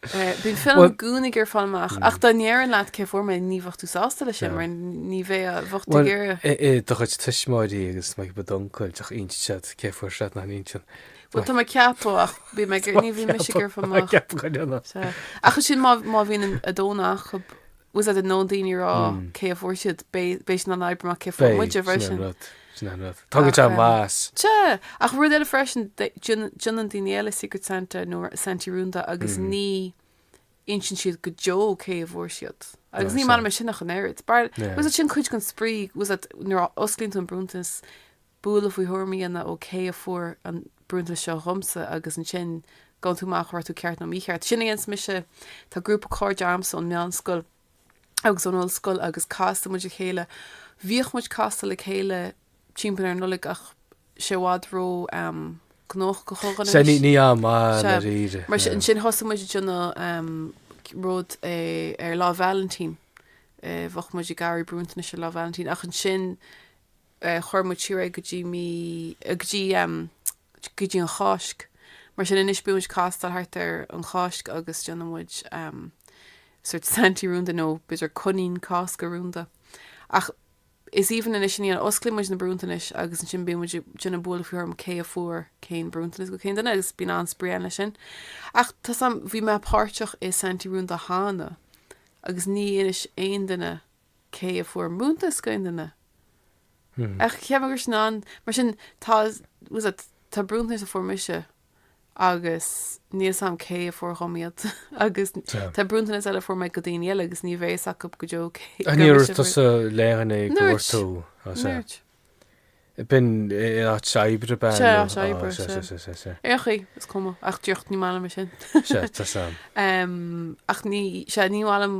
Bíonn tú i gcónaí ag iarraidh fáil amach ach dá ndéarfainn leat cé fuair mé ní bheadh tú sásta leis sin mar ní bheadh, bheadh tú ag iarraidh. Do chuid tuismitheoirí agus maybe d'uncail ach insíonn siad cé fuair siad nach n-insíonn. Bhuel, tá mé ag ceapadh ach bhí mé ag iarraidh ní bhí mise ag iarraidh fáil amach. Tá mé ag ceapadh go deineann. Sea. Ach ansin má má bhíonn an 2 n-achob. Tá a fhios agat nó daoine ag rá cé a fuair siad, beidh siad in ann oibriú amach cé a fuair muide freisin. Beidh, sin an rud. Tá go deimhin muis. Sea! Ach rud eile freisin, déanann daoine eile Secret Santa nó Santaí rúnda agus ní insíonn siad go deo cé a fuair siad. Agus ní maith liom é sin ach an oiread. Tá a fhios agat, sin cuid den spraoi, nuair a osclaíonn tú an bronntanas, Buille faoi thuairim a dhéanamh ó cé a fuair an bronntanas seo dhomsa agus ansin faigheann tú amach an raibh tú ceart nó mícheart. Sin a dhéananns mise. Tá grúpa cairde agamsa ón meánscoil agus ón ollscoil agus casfaidh muid le chéile. Bhíodh muid ag castáil le chéile timpeall ar an Nollaig ach tá sé i bhfad ró-ghnóthach do chuid againn Sea, anois. níl am ann Sea, dáiríre. mar sin, ansin thosaigh muid ag déanamh rud ar Lá Vailintín. Bheadh muid ag iarraidh bronntanais ar Lá Vailintín ach ansin chuir muid siar é go dtí mí, go dtí, go dtí an Cháisc. Mar sin, anois bíonn muid ag castáil thart ar an Cháisc agus déanann muid sórt Santaí rúnda nó b'fhéidir Coinín Cásca rúnda. Ach is aoibhinn anois an oíche, osclaíonn muid na bronntanais agus ansin bíonn muid, ag déanamh buille faoi thuairim cé a fuair cén bronntanas do cén duine agus bíonn an-spraoi ann leis sin. Ach tá a fhios agam, bhí mé páirteach i Santaí rúnda cheana agus níor inis aon duine, cé a fuair bronntanas do cén duine ach cheap mé go raibh sin ann. Mar sin, tá, tá a fhios agat, tá bronntanais a fuair mise agus níl a fhios agam cé a fuair dhom iad agus tá bronntanais eile a fuair mé do dhaoine eile agus ní bheidh a fhios acu go deo cé. An níor gur tusa mise fuair. léighinn é go bhfuair Níor dhúirt. tú? Á, sea. Níor dhúirt. B'in in áit oibre ab in? Sea, nó- áit á, oibre, sea, sea. sea, sea, sea, sea. Ar aon chaoi, is cuma. Ach, just, ní maith liom é sin. Sea, tá a fhios agam. Em, ach ní, sea, ní maith liom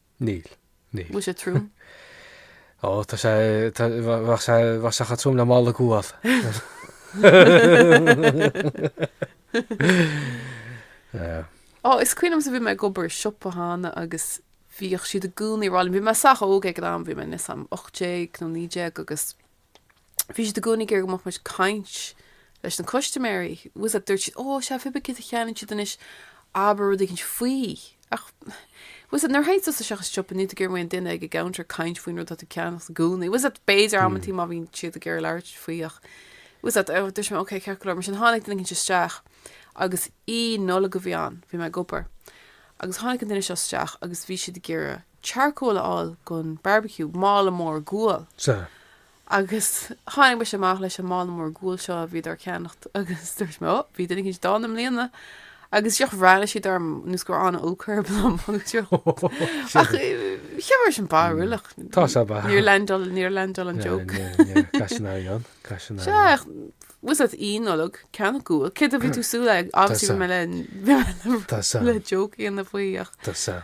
Níl. Níl. Bhfuil sé trom? Ó, tá sé, tá, bheadh sé, bheadh sé chomh trom le mála guail. yeah. Ó, is cuimhin liomsa bhí mé ag obair i siopa cheana agus bhíodh siad i gcónaí ag rá liom, bhí mé sách óg ag an am, bhí mé níl a fhios agam 18 nó 19 agus bhí siad i gcónaí ag iarraidh go mbeadh muid ag caint leis na custaiméirí. Tá a fhios agat, dúirt siad, oh, sea, cibé céard a cheannaigh siad anois, abair, rud éigin faoi. Ach, tá a fhios agat, nuair a théann tusa isteach sa siopa, níl tú ag iarraidh an duine ag an gcuntar ag caint faoin rud atá tú ag ceannacht i gcónaí. Tá a fhios agat, b'fhéidir amantaí má bhíonn siad ag iarraidh labhairt faoi ach, tá a fhios agat, oh, dúirt mé, ok, ceart go leor. Mar sin tháinig duine éigin isteach agus Oíche Nollag a bhí ann, bhí mé ag obair, agus tháinig an duine seo isteach agus bhí siad ag iarraidh charcoal a fháil don barbecue, mála mór guail. Sea. Agus tháinig mise amach leis an mála mór guail seo a bhí siad tar éis ceannacht agus dúirt mé, oh, bhí duine eicínt dána i mbliana. Agus just bhreathnaigh siad orm nós go raibh an-olc orthu liom agus siad Oh, shit. Ach cheap mé go raibh sé sin barrúil ach. Tá sé ba. Níor landáil, níor landáil an Yeah, joke. yeah, yeah. Caiseanna ar dheon, caiseanna ar Sea, dheon. ach tá a fhios agat Oíche Nollag, ceannacht guail, céard a bhí tú ag súil leis? Obviously bhí Tá a fhios agam. mé le, bhí mé le, Tá a fhios agam. le joke a dhéanamh faoi ach Tá a fhios agam.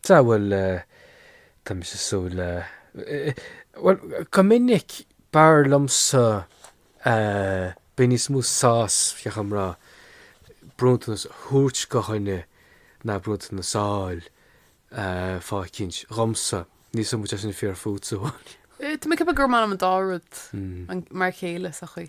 Sea, bhuel, tá mise ag súil le, bhuel, go minic b'fhearr liomsa, bíonn níos mó sásaimh, thiocfadh liom a rá, bronntanas a thabhairt go dhuine ná bronntanas a fháil, fáth eicínt, dhomsa. Níl a fhios agam an bhfuil sé sin fíor fútsa, bhuel. Tá mé ag ceapadh gur maith liom an dá rud mar a chéile sa chaoi.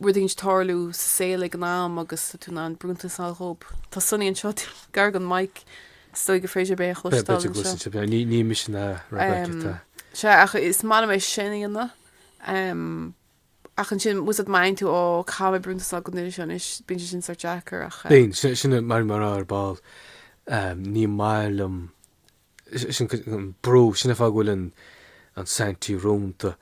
rud éigin ag tarlú sa saol ag an am agus tá tú in ann bronntanas a fháil dhóibh. Tá Sonny anseo gar don maic, is dóigh gur féidir libh é a Bheith chloisteáil beirt ag anseo. gluaiseacht ar bith. Níl mise in a rá go aici, tá. Sea, ach is maith liom é sin a dhéanamh. Ach ansin, bhfuil a fhios agat, má bhíonn tú, Ó, caithfidh mé bronntanas a fháil don duine seo anois, bíonn sé sin sort deacair ach eh. Bíonn, sin, sin a bhí mé a rá ar ball, ní maith liom sin an brú, sin an fáth go bhfuil an an Santaí rúnda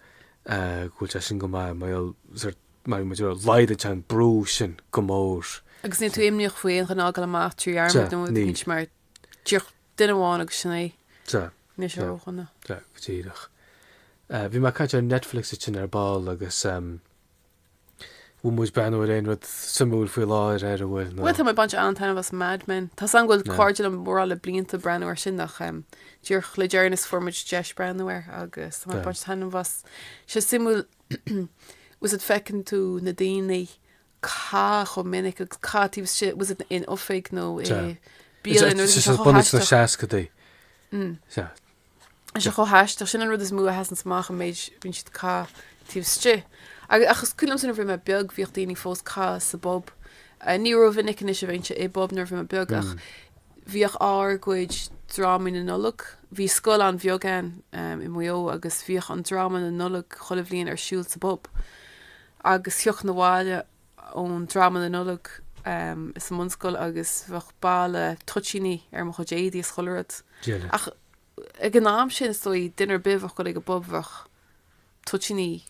go bhfuil sé sin go maith mar gheall ar mar laghdaíonn sé an brú sin go mór. Agus níl tú imníoch faoi aon duine a fhágáil amach trí dhearmad nó níl. Níl mar díreach duine amháin agus sin é. Sea. Níl sé ródhona. Sea go díreach. Bhí mé ag caint ar Netflix ansin ar ball agus Bhfuil muid ag breathnú ar aon rud suimiúil faoi láthair ar a bhfuil na. Bhuel, tá mé ag baint an-taitneamh as Mad Men. Tá a fhios agam go bhfuil cairde liom mórán le blianta ag breathnú air sin ach díreach le deireanas fuair muid deis breathnú air agus tá mé ag baint taitneamh as. Sé suimiúil bhfuil a fhios agat, feiceann tú na daoine ag caitheamh chomh minic agus ag caitheamh taobh istigh, bhfuil a fhios agat, in oifig nó i mbialann nó rud is é seo chomh bunús na haisteach. seascaidí. Sea, Tá sé chomh haisteach, sin an rud is mó a sheasanns amach an méid a bhíonn siad ag caitheamh taobh istigh. Agus ach is cuimhin liomsa nuair bhí mé beag bhíodh daoine fós ag caitheamh sa bpub. Ní rómhinic anois a bheinnse i bpub nuair bhí mé beag ach bhíodh ár gcuid drámaí na Nollag. Bhí scoil an-bheag ann i Maigh Eo agus bhíodh an dráma na Nollag chuile bhliain ar siúl sa bpub agus thiocfainn abhaile ón dráma na Nollag sa mbunscoil agus bheadh boladh toitíní ar mo chuid éadaí is chuile rud. Ach ag an am sin, is dóigh, duine ar bith a bheadh ag dul ag an bpub, bheadh toitíní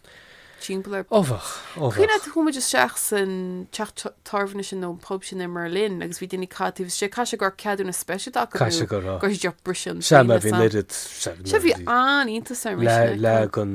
timpeall air. Ó bheadh, ó bheadh. Cuimhin leat, chuaigh muid isteach san teach tábhairne sin nó an pub sin i mBerlin agus bhí daoine ag caitheamh taobh istigh. Caithfidh sé go raibh ceadúnas speisialta acu. Caithfidh sé go raibh. Go raibh siad díreach ag briseadh an. Sea, mar bhí an oiread. Sea, bhí an-iontas orm. Leagan.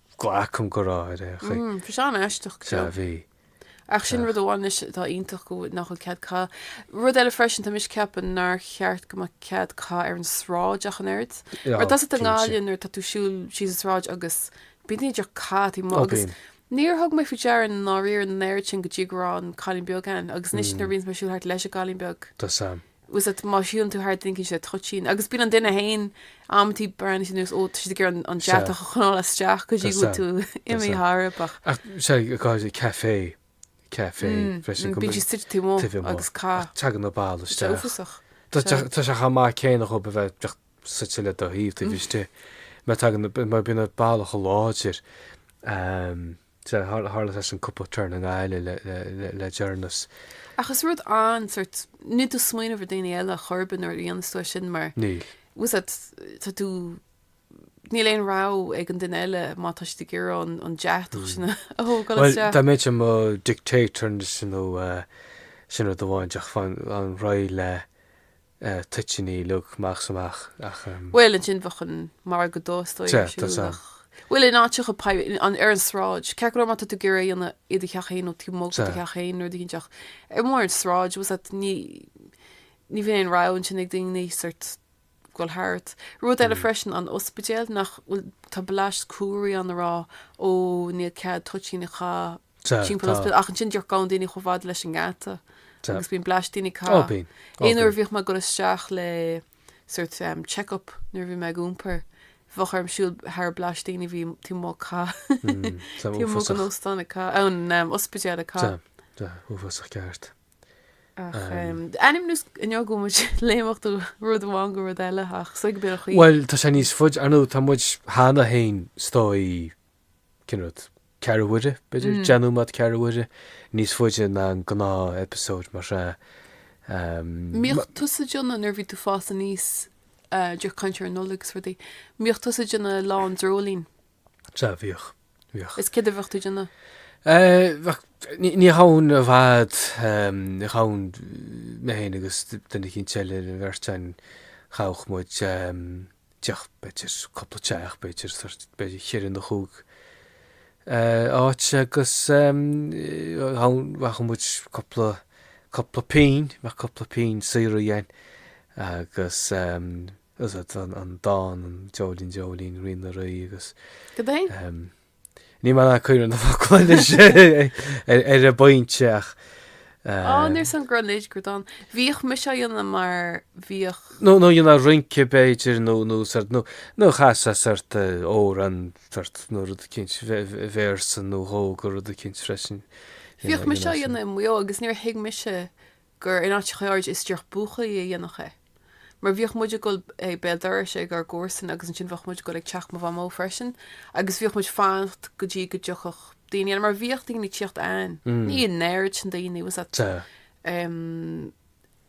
glacaim go raibh ar aon chaoi. Bhí sé an-aisteach go Sea, deo. bhí. Ach sin rud amháin anois atá iontach go bhfuil nach bhfuil cead caitheamh. Rud eile freisin, tá mise ag ceapadh nár cheart go mbeadh cead caitheamh ar an sráid ach an oiread. Mar Ná, tá a fhios agat cinnte. i nGaillimh nuair tá tú ag siúl síos an sráid agus bíonn siad díreach ag caitheamh i m'aghaidh Ó, agus bíonn. Níor thug mé faoi deara i ndáiríre an oiread sin go dtí go raibh an cailín beag ann agus anois nuair bhíonns mé ag siúl thart leis an gcailín beag Tá a fhios agam. Bhfuil a fhios agat má shiúlann tú thar duine eicínt sé toitín agus bíonn an duine fhéin amantaí breathnaíonn sé anuas ó tá siad ag iarraidh an deatach a choinneáil isteach go dtí go bhfuil tú imithe thar a bach. Ach sé a gcáil sé café, café freisin go. Bíonn siad suite taobh amuigh taobh amuigh agus ag caitheamh. ach tagann an boladh isteach. Is uafásach. Tá sé tá sé chomh maith céanna dhóibh a bheith bheith suite le do thaobh taobh istigh. Má tagann mar bíonn an boladh chomh láidir. Tharla sé sin cúpla turn i nGaillimh le deireanas. Ach is rud an, sort, níl tú ag smaoineamh ar daoine eile ar chor ar bith nuair a dhéanas tú é sin mar. Níl. Bhfuil a fhios agat tá tú Níl aon rogha ag an duine eile má tá siad ag iarraidh an deatach sin a thógáil Well, isteach. dá mbeinn i mo dictator sin nó sin rud amháin a gheofainn réidh le eh, toitíní, uilig, amach 's amach ach em. Bhuel ansin bheadh an margadh dubh is dóigh Sea, ar tá siúl san. ach bhuel in áiteacha poib, in, an, ar an sráid, ceart go leor má tá tú ag iarraidh é a dhéanamh i do theach féin nó taobh amuigh de do Sea. theach féin nó rud eicínt ach ar mhór an tsráid bhfuil a fhios agat ní, ní bhíonn aon rogha ansin ag daoine sort ag dul thart. Rud eile Mm. freisin an ospidéal nach bhfuil, tá blast comharthaí ann ag rá ó níl cead toitín a chaitheamh, timpeall ospidéal ach ansin díreach gabhann daoine chomh fada leis an ngeata agus bíonn blast daoine ag caitheamh. Aon uair a bhíodh mé ag dul isteach le sort check up nuair a bhí mé ag iompar bheadh orm siúl thar blast daoine a bhí taobh amuigh ag caitheamh taobh amuigh an óstáin ag caitheamh an ospidéal ag caitheamh. Tá, uafásach ceart. Ar aon nós inniu gabhfaidh muid ag léimneach ó rud amháin go rud eile ach so go bíonn chuí. Bhuel tá sé níos faide ar ndóigh tá muid cheana fhéin istigh cineál ceathrú uaire, b'fhéidir, déanfaidh muid ceathrú uaire, níos faide ná an gnáth-eipeasóid mar sea. Mbíodh tusa déanamh nuair a bhí tú ag fás aníos díreach ag caint ar an Nollaig is rudaí. Mbíodh tusa déanamh lá an dreoilín. Sea, bhíodh, bhíodh. Is céard a bheadh tú déanamh? Bheadh, ní ghabhainn i bhfad, ní ghabhainn mé féin agus duine eicínt eile an bheirt againn, ghabhadh muid teach, b'fhéidir, cúpla teach, b'fhéidir, sórt, b'fhéidir cheithre nó chúig áit agus bheadh muid cúpla, cúpla pínn, bheadh cúpla pínn saothraithe againn agus an dán, an Dreoilín, Dreoilín, Rí na Rí agus. Go deimhin. Níl mé in ann cuimhneamh ar na focla anois ar an bpointe ach. Á, eh, níor san gro lid gur don. Bhíodh mise á dhéanamh mar bhíodh. nó nó dhéanfá rince b'fhéidir nó nó sort nó nó chasfá sort eh, amhrán sort nó rud eicínt véarsa nó dhó de rud eicínt freisin. Bhíodh mise á dhéanamh i Maigh Eo agus níor thuig mise gur in áiteachaí áirid is díreach buachaillí a dhéanfadh é. Mar bhíodh muid ag dul béal dorais ag ár gcomharsana agus ansin bheadh muid ag dul ag teach mo Mhamó freisin agus bhíodh muid ag fanacht go dtí go dtiocfadh daoine eile mar bhíodh daoine ag tíocht ann. Ní an oiread sin daoine bhfuil a fhios agat em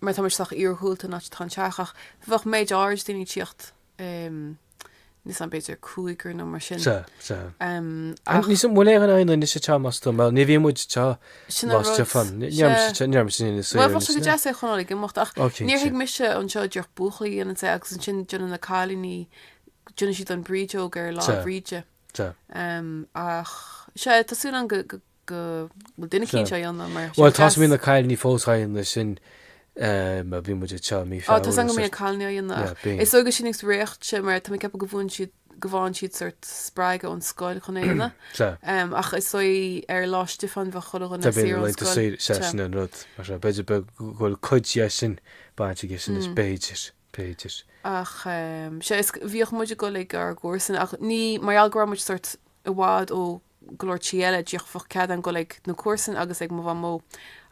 mar tá muid sách iargúlta an áit atá an teach ach bheadh méid áirid daoine ag tíocht eh. Níl a fhios agam b'fhéidir cúigear nó mar sin. Sea, sea. Ach. Níl a fhios agam an bhfuil éinne á dhéanamh anois atá más tú, mar ní bhíonn muid atá más de fan. Níorm sin ina saoire. Bheadh sé go deas é a choinneáil ag imeacht ach níor thuig mise anseo díreach buachaillí a dhéanann é agus ansin déanann na cailíní déanann siad an brídeog ar Lá Bríde. Ach sea tá súil agam go go bhfuil duine eicínt fós á dhéanamh mar sin. Bhuel, tá sí na cailíní fós á dhéanamh sin a bhí muid anseo mí Feabhra. Á, tá a fhios agam go mbíonn na cailíní á dhéanamh. Is dóigh go sin agus réacht sé mar tá mé ag ceapadh go bhfaigheann siad go bhfaigheann siad sórt spreagadh ón scoil chun é a dhéanamh. Ach is dóigh ar Lá Stiofáin bheadh chuile dhuine saor ón scoil. Tá sé sin an rud. B'fhéidir go bhfuil cuid dhe sin baint aige sin is b'fhéidir. B'fhéidir. Ach sea, is bhíodh muid ag dul ag ár gcomharsana ach ní mar gheall go raibh muid sórt i bhfad ó go leor tithe eile, díreach bheadh cead againn a ghoil ag na comharsana agus ag mo mhamó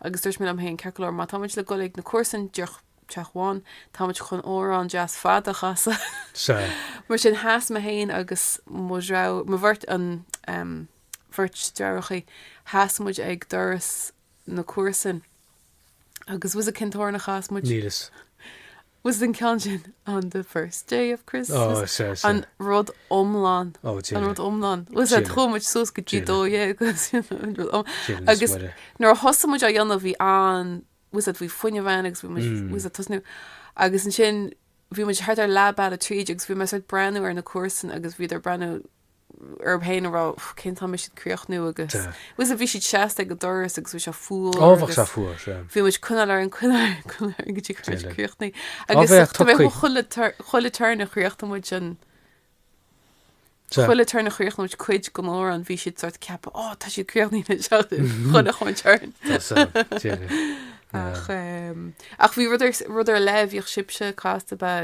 agus dúirt mé liom féin, ceart go leor, má táimid le ghoil ag na comharsana, díreach teach amháin, táimid chun amhrán deas fada a chasadh. Sea. Mar sin, sheas mé féin agus mo dhreabh, mo bheirt, an, em, bheirt dheartháireachaí, sheas muid ag doras na cúrsain agus was a cinnteoirneacha as muid. Níl fhios. Was den ceann sin on the first day of Christmas an rud iomlán an rud iomlán was a chuaigh muid suas go dtí 12 agus nuair a thosaigh muid á dhéanamh bhí an was a bhí fuinneamh ann agus bhí was a tosnú agus an sin bhí muid thart ar lab eile tríd agus bhí meas breanú ar na cúrsain agus bhíad ar breanú orm féin ag rá cén t-am a mbeidh siad críochnaithe agus bhfuil a fhios agat bhí siad seasta ag an doras agus bhí sé fuar agus bhí muid coinneáil orainn coinneáil go dtí críochnaithe agus chuile turn a chríochnódh muid sin chuile turn a chríochnódh muid cuid den amhrán bhí siad sórt ag ceapadh á tá siad críochnaithe chuile chaon turn ach bhí rud ar rud ar leith a bhíodh sibhse ag casadh ba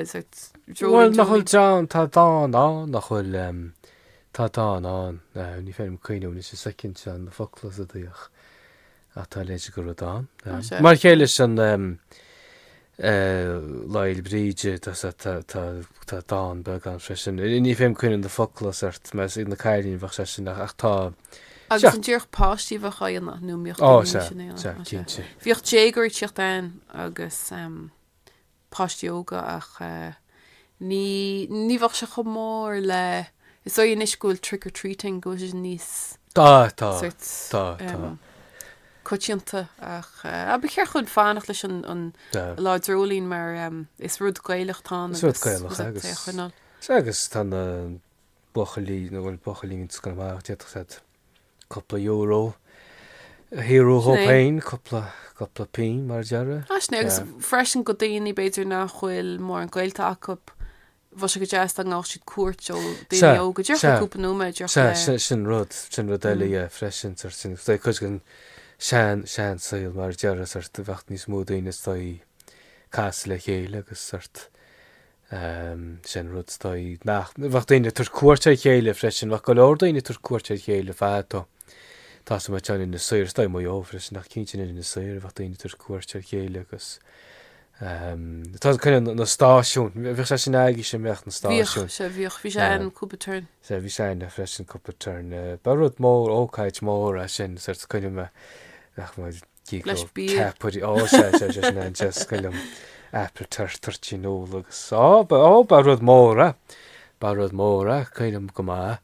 Bhuel, nach bhfuil dán, tá dán ann, nach bhfuil, tá dán ann, ní féidir liom cuimhniú anois an soicind seo na focla sin díreach, ach tá a leithéide de rud ann. Mar chéile leis an Lá Fhéile Bríde, tá, tá, tá dán beag ann freisin, ní féidir liom cuimhniú na focla sórt, mar is ag na cailíní a bheadh sé sin, ach tá, Agus an díreach páistí a bheadh á dhéanamh, nó mbíodh daoine níos sine á dhéanamh, sea, cinnte. Bhíodh déagóirí ag tíocht ann agus, páistí óga ach ní ní bheadh sé chomh mór le is dóigh anois go bhfuil trick or treating go bhfuil sé níos Tá, tá, sort tá, tá. coitianta ach ba cheart dhúinn fanacht leis an an Tá. Lá Dreoilín mar is rud Gaelach atá ann Is rud agus Gaelach rud agus é a choinneáil. agus tá na buachaillí nó bhfuil buachaillí meánscoile amach d'fhéadfadh siad cúpla euro a shaothrú dhóib Sin é. féin, cúpla, cúpla pingin, mar a déarfá. Ah, sin é, agus Yeah. freisin do dhaoine, b'fhéidir, nach bhfuil mórán gaolta acu, bheadh sé go deas dá ngabhadh siad cuairt ó daoine Sea, óga. Dearfa sea. cúpla nóiméad, dearfa Sea, le- sin, sin rud, sin rud eile, Mm. yeah, freisin, sort, sin, tá cuid den sean, sean saol, mar a déarfá, sort, bheadh níos mó daoine is dóigh casadh le chéile agus sort, Sin rud is dóigh nach bheadh daoine ag tabhairt cuairt ar a chéile freisin. Bheadh go leor daoine ag tabhairt cuairt ar a chéile fadó. Tá a fhios agam in Inis Oírr. Is dóigh Maigh Eo freisin ach cinnte in Inis Oírr a bheadh daoine ag tabhairt cuairt ar a chéile agus tá an coinne na stáisiúin. Bheadh sé sin agaibhse an mbeadh na stáisiúin. Bhíodh sé bhíodh. Bhí sé ann cúpla turn. Sea bhí sé ann freisin cúpla turn. Ba rud mór, ócáid mór é sin. Sort cuimhním nach bhfuil Gidh go ceapairí Ó, sea, sea, sea, sin é is cuimhin liom. Apple tart, toirtín úll agus Ó, ba, ó, ba rud mór é, ba rud mór é, cuimhin liom go maith.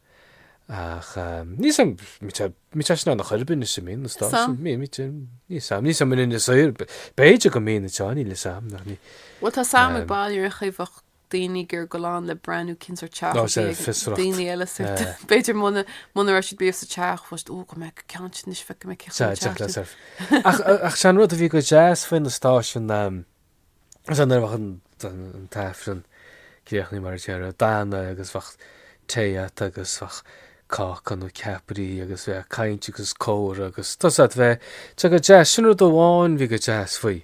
Ach níl a fhios agam, mita, mita sin ann ar chor ar bith anois i Maigh Eo, is dóigh, sam, mí, mita, níl a fhios agam, níl a fhios agam in Inis Oírr, b'fhéidir go mbíonn a teáinín le sam, nach ní. Bhuel, tá a fhios agam ag bail ar a chuimheacht. daoine gur ag goil ann le breathnú cén sórt teach a bhí ag daoine eile sa teach. B'fhéidir muna muna raibh siad riamh sa teach fós, Ó, go mbeadh go ceann siad anois, bheadh go mbeadh céachta ag teacht leo. Ach ach sé an rud a bhí go deas faoi na stáisiúin am is ea nuair a bheadh an an tAifreann críochnaithe mar a déarfá déanta agus bheadh tae agat agus bheadh cáca nó ceapairí agus bheadh caint agus comhrá agus tá a fhios agat bheadh sé go deas. Sin rud amháin bhí go deas faoi.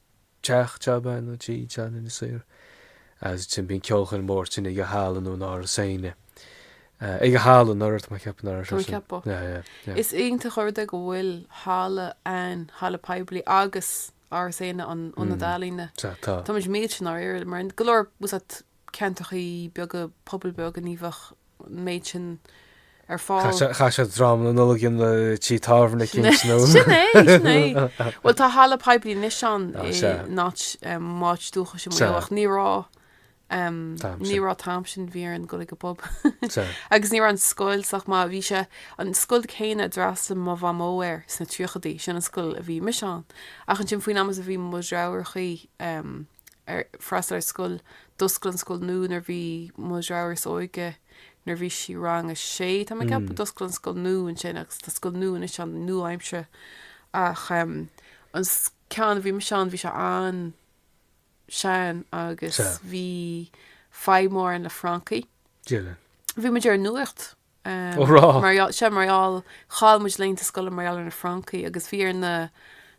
teach tábhairne atá ann in Inis Oírr ansin bíonn ceolchoirm mar sin ag an halla nó Áras Éanna. ag an halla an ort tá mé ag ceapadh ar sin. ceapadh. Yeah, yeah, yeah. Is iontach an rud é go bhfuil halla ann, halla poiblí agus Áras Éanna an ionad ealaíne. Tá. Tá. Táimid millte i ndáiríre mar go leor was that ceantrachaí beaga, pobail bheaga, ní bheadh an méid sin ar fáil. Chaith siad dráma na Nollag in tí tábhairne Kings nó? Sin é, sin é. Bhuel, tá halla poiblí anois ann in áit m'áit dúchais i Maigh Eo ach ní raibh, ní raibh an t-am sin, bhí orainn dul ag an bpub. Agus ní raibh an scoil sách maith, bhí sé, an scoil chéanna a d'fhreastail mo Mhamó air sna tríochadaí, sin an scoil a bhí mise ann. Ach ansin faoin am is a bhí mo dheartháireachaí, ag freastal ar scoil. D'oscail an scoil nua nuair bhí mo dheirfiúr is óige, nuair bhí sí rang a sé tá mé ag ceapadh, d'oscail an scoil nua ansin agus tá scoil nua anois ann, nua-aimseartha, ach an ceann a bhí mise ann bhí sé an-sean agus bhí fadhb mór ann le francaigh. Dia linn. Bhí muid ar an nuacht. Ó rá. Mar gheall, sea, mar gheall, chaill muid laethanta scoile mar gheall ar na francaigh agus bhí ar na,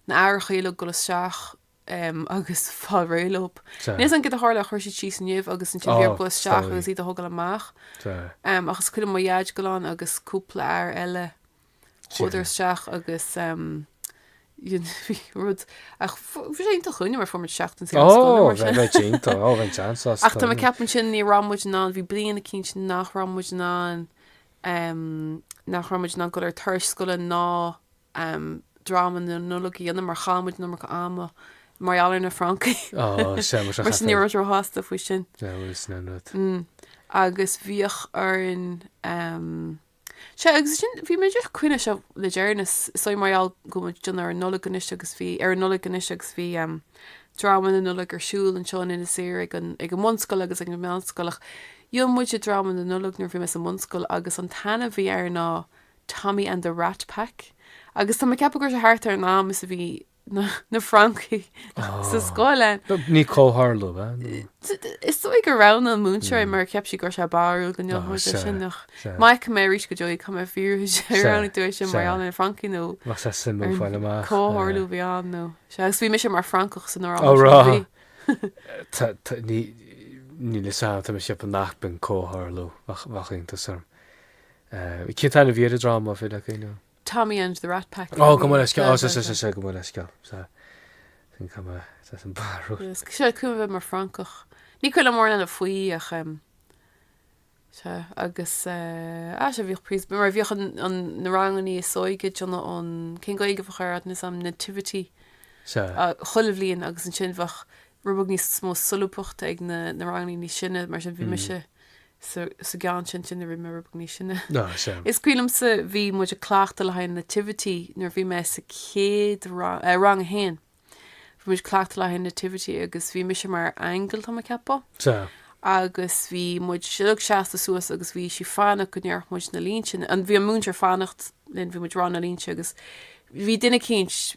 na haithreacha uilig dul isteach agus fáil réidh leob. Níl fhios a'm cad a tharla a chuir siad síos nimh agus ansin bhí orthub dul isteach agus iad a thógáil amach. Ach is cuimhin liom mo Dhaid ag dul ann agus cúpla athair eile chuadar isteach agus bhí rud, ach bhí sé iontach dhúinne mar fuair muid seachtain saor as scoil nó mar sin. Ó, bheith iontach, ó, bheith seans as. Ach tá mé ag ceapadh ansin ní raibh muid in ann, bhí bliain eicínt nach raibh muid in ann, nach raibh muid in ann dul ar turais scoile ná am, dráma na Nollag a dhéanamh mar chaith muid an iomarca ama mar gheall ar na francaí. Á, seamais a Mar sin ní chaithfear. raibh muid róshásta faoi sin. Seamais is an rud. Mm. Agus bhíodh orainn em, sea, agus sin, bhí muid ag cuimhneamh air seo le deireanas, is dóigh mar gheall go bhfuil muid ag déanamh ar an Nollaig anois agus bhí, ar an Nollaig anois agus bhí em, dráma na Nollag ar siúl anseo in Inis Oírr ag an, ag an mbunscoil agus ag an meánscoil ach dhein muide dráma na Nollag nuair a bhí mé sa mbunscoil agus an t-ainm a bhí air ná Tommy and the Rat Pack agus tá mé ag ceapadh go raibh sé thart ar an am is a bhí na Francaigh sa scoil ann. Ní comhtharlú, ab ea? Is dóigh go raibh an múinteoir mar cheap sí go raibh sé barrúil go ndéanfadh sé sin ach má fheicfidh mé arís go deo í caithfidh mé fiafraí ar ann dúirt sé mar gheall ar na Francaigh nó Bheadh sé suimiúil fáil amach. comhtharlú a bhí ann nó sea agus bhí mise mar Francach san ár Ó rá. Níl fhios a'm tá mé ag ceapadh nach b'in comhtharlú bheadh iontas orm. Cén t-ainm a bhí ar an dráma a bhí againn ó. Tommy and the Rat Pack. Ó gabh mo leithscéal sa sa sa gabh mo leithscéal sa sin cuma sa sin barrúil. Sea cuimhin liom a bheith mar Francach. Ní cuimhin liom mórán eile faoi ach sea agus ah sea bhíodh príos mar bhíodh an an na rangannaí is óige déanamh ó cén Gaeilge a bheadh air níl fhios a'm Nativity Sa. chuile bhliain agus ansin bheadh rud beag níos mó solúbthachta ag na na rangannaí níos sine mar sin bhí mise sa gceann sin sin nuair a bhí mé níos sine. Is cuimhin liomsa bhí muid ag cleachtadh le haghaidh Nativity nuair a bhí mé sa chéad rang, eh, rang a haon. Bhí muid ag cleachtadh le haghaidh Nativity agus bhí mise mar aingeal tá mé ag ceapadh. Sea. Agus bhí muid uilig seasta suas agus bhí sí fanacht go ndéarfadh muid na línte, an bhí an múinteoir fanacht linn bhí muid rá na línte agus bhí duine eicínt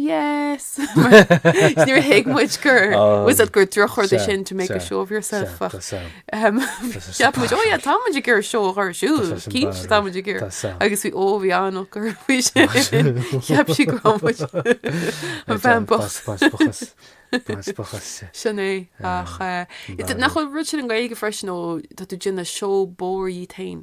Yes! Níor thuig muid gur was it gur drochrud é sin to make a show of yourself ach cheap muid, ó yeah, tá muid ag iarraidh seó a chur ar siúl, cinnte tá muid ag iarraidh. Agus bhí, ó bhí an-náire faoi sin, cheap sí go raibh muid an bhean bhocht. Sin é ach nach bhfuil rud sin i nGaeilge freisin ó tá tú ag déanamh seó bóithre dhíot féin.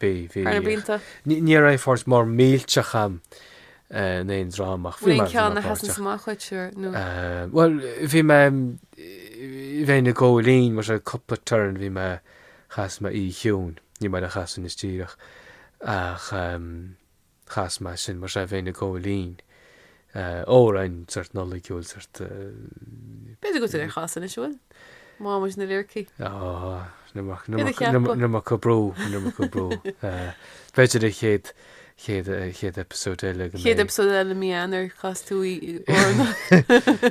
Bhí, bhí. Thar na blianta. Ní raibh páirt mór millteach a'm in aon dráma ach bhí mé páirteach. Bhí ceann a sheasann amach dhuit siúráilte nó? Bhuel, bhí mé, bhínn i gcóirín mar sin cúpla turn, bhí mé, chas mé Oíche Chiúin, ní maith liom í a chasadh anois díreach ach. chas mé sin, mar sin bhínn i gcóirín, amhráin sort Nollaigiúil, sort. B'fhéidir go bhfuil tú á chasadh anois an bhfuil má bhíonns na liricí. Níl mé ag cur brú, níl mé ag cur brú. B'fhéidir a chéad, chéad, chéad eipeasóid eile go mbeidh. Chéad eipeasóid eile i mí Eanáir, casfaidh tú í,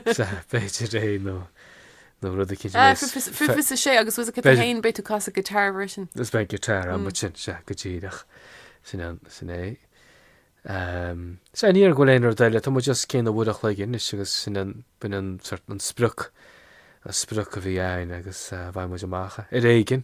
B'fhéidir é nó nó rud éicint a bheas. Ah, feicfidh muid, sea, agus tusa thú féin, beidh tú ag casadh guitar freisin. Is beidh guitar ann, but sin, sea, go díreach, sin an, sin é. Ehm, sea, ní dhéarfainn go bhfuil aon rud eile, tá muid just cineál ag breathnú chun cinn anois agus sin an, b'in an sort, an sprioc, an sprioc a bhí ann agus eh, bheidh muid amach, ar aon chaoi,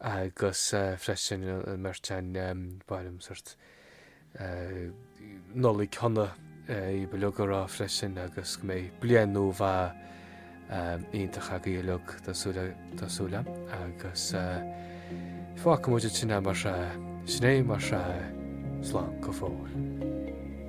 agus freisin ón mbeirt againn ba mhaith liom sort Nollaig shona dhaoibh uilig a rá freisin agus go mbeidh bliain nua mhaith iontach agaibh uilig tá súil tá súil agam agus fágfaidh muid anois mar sin é mar slán go fóill.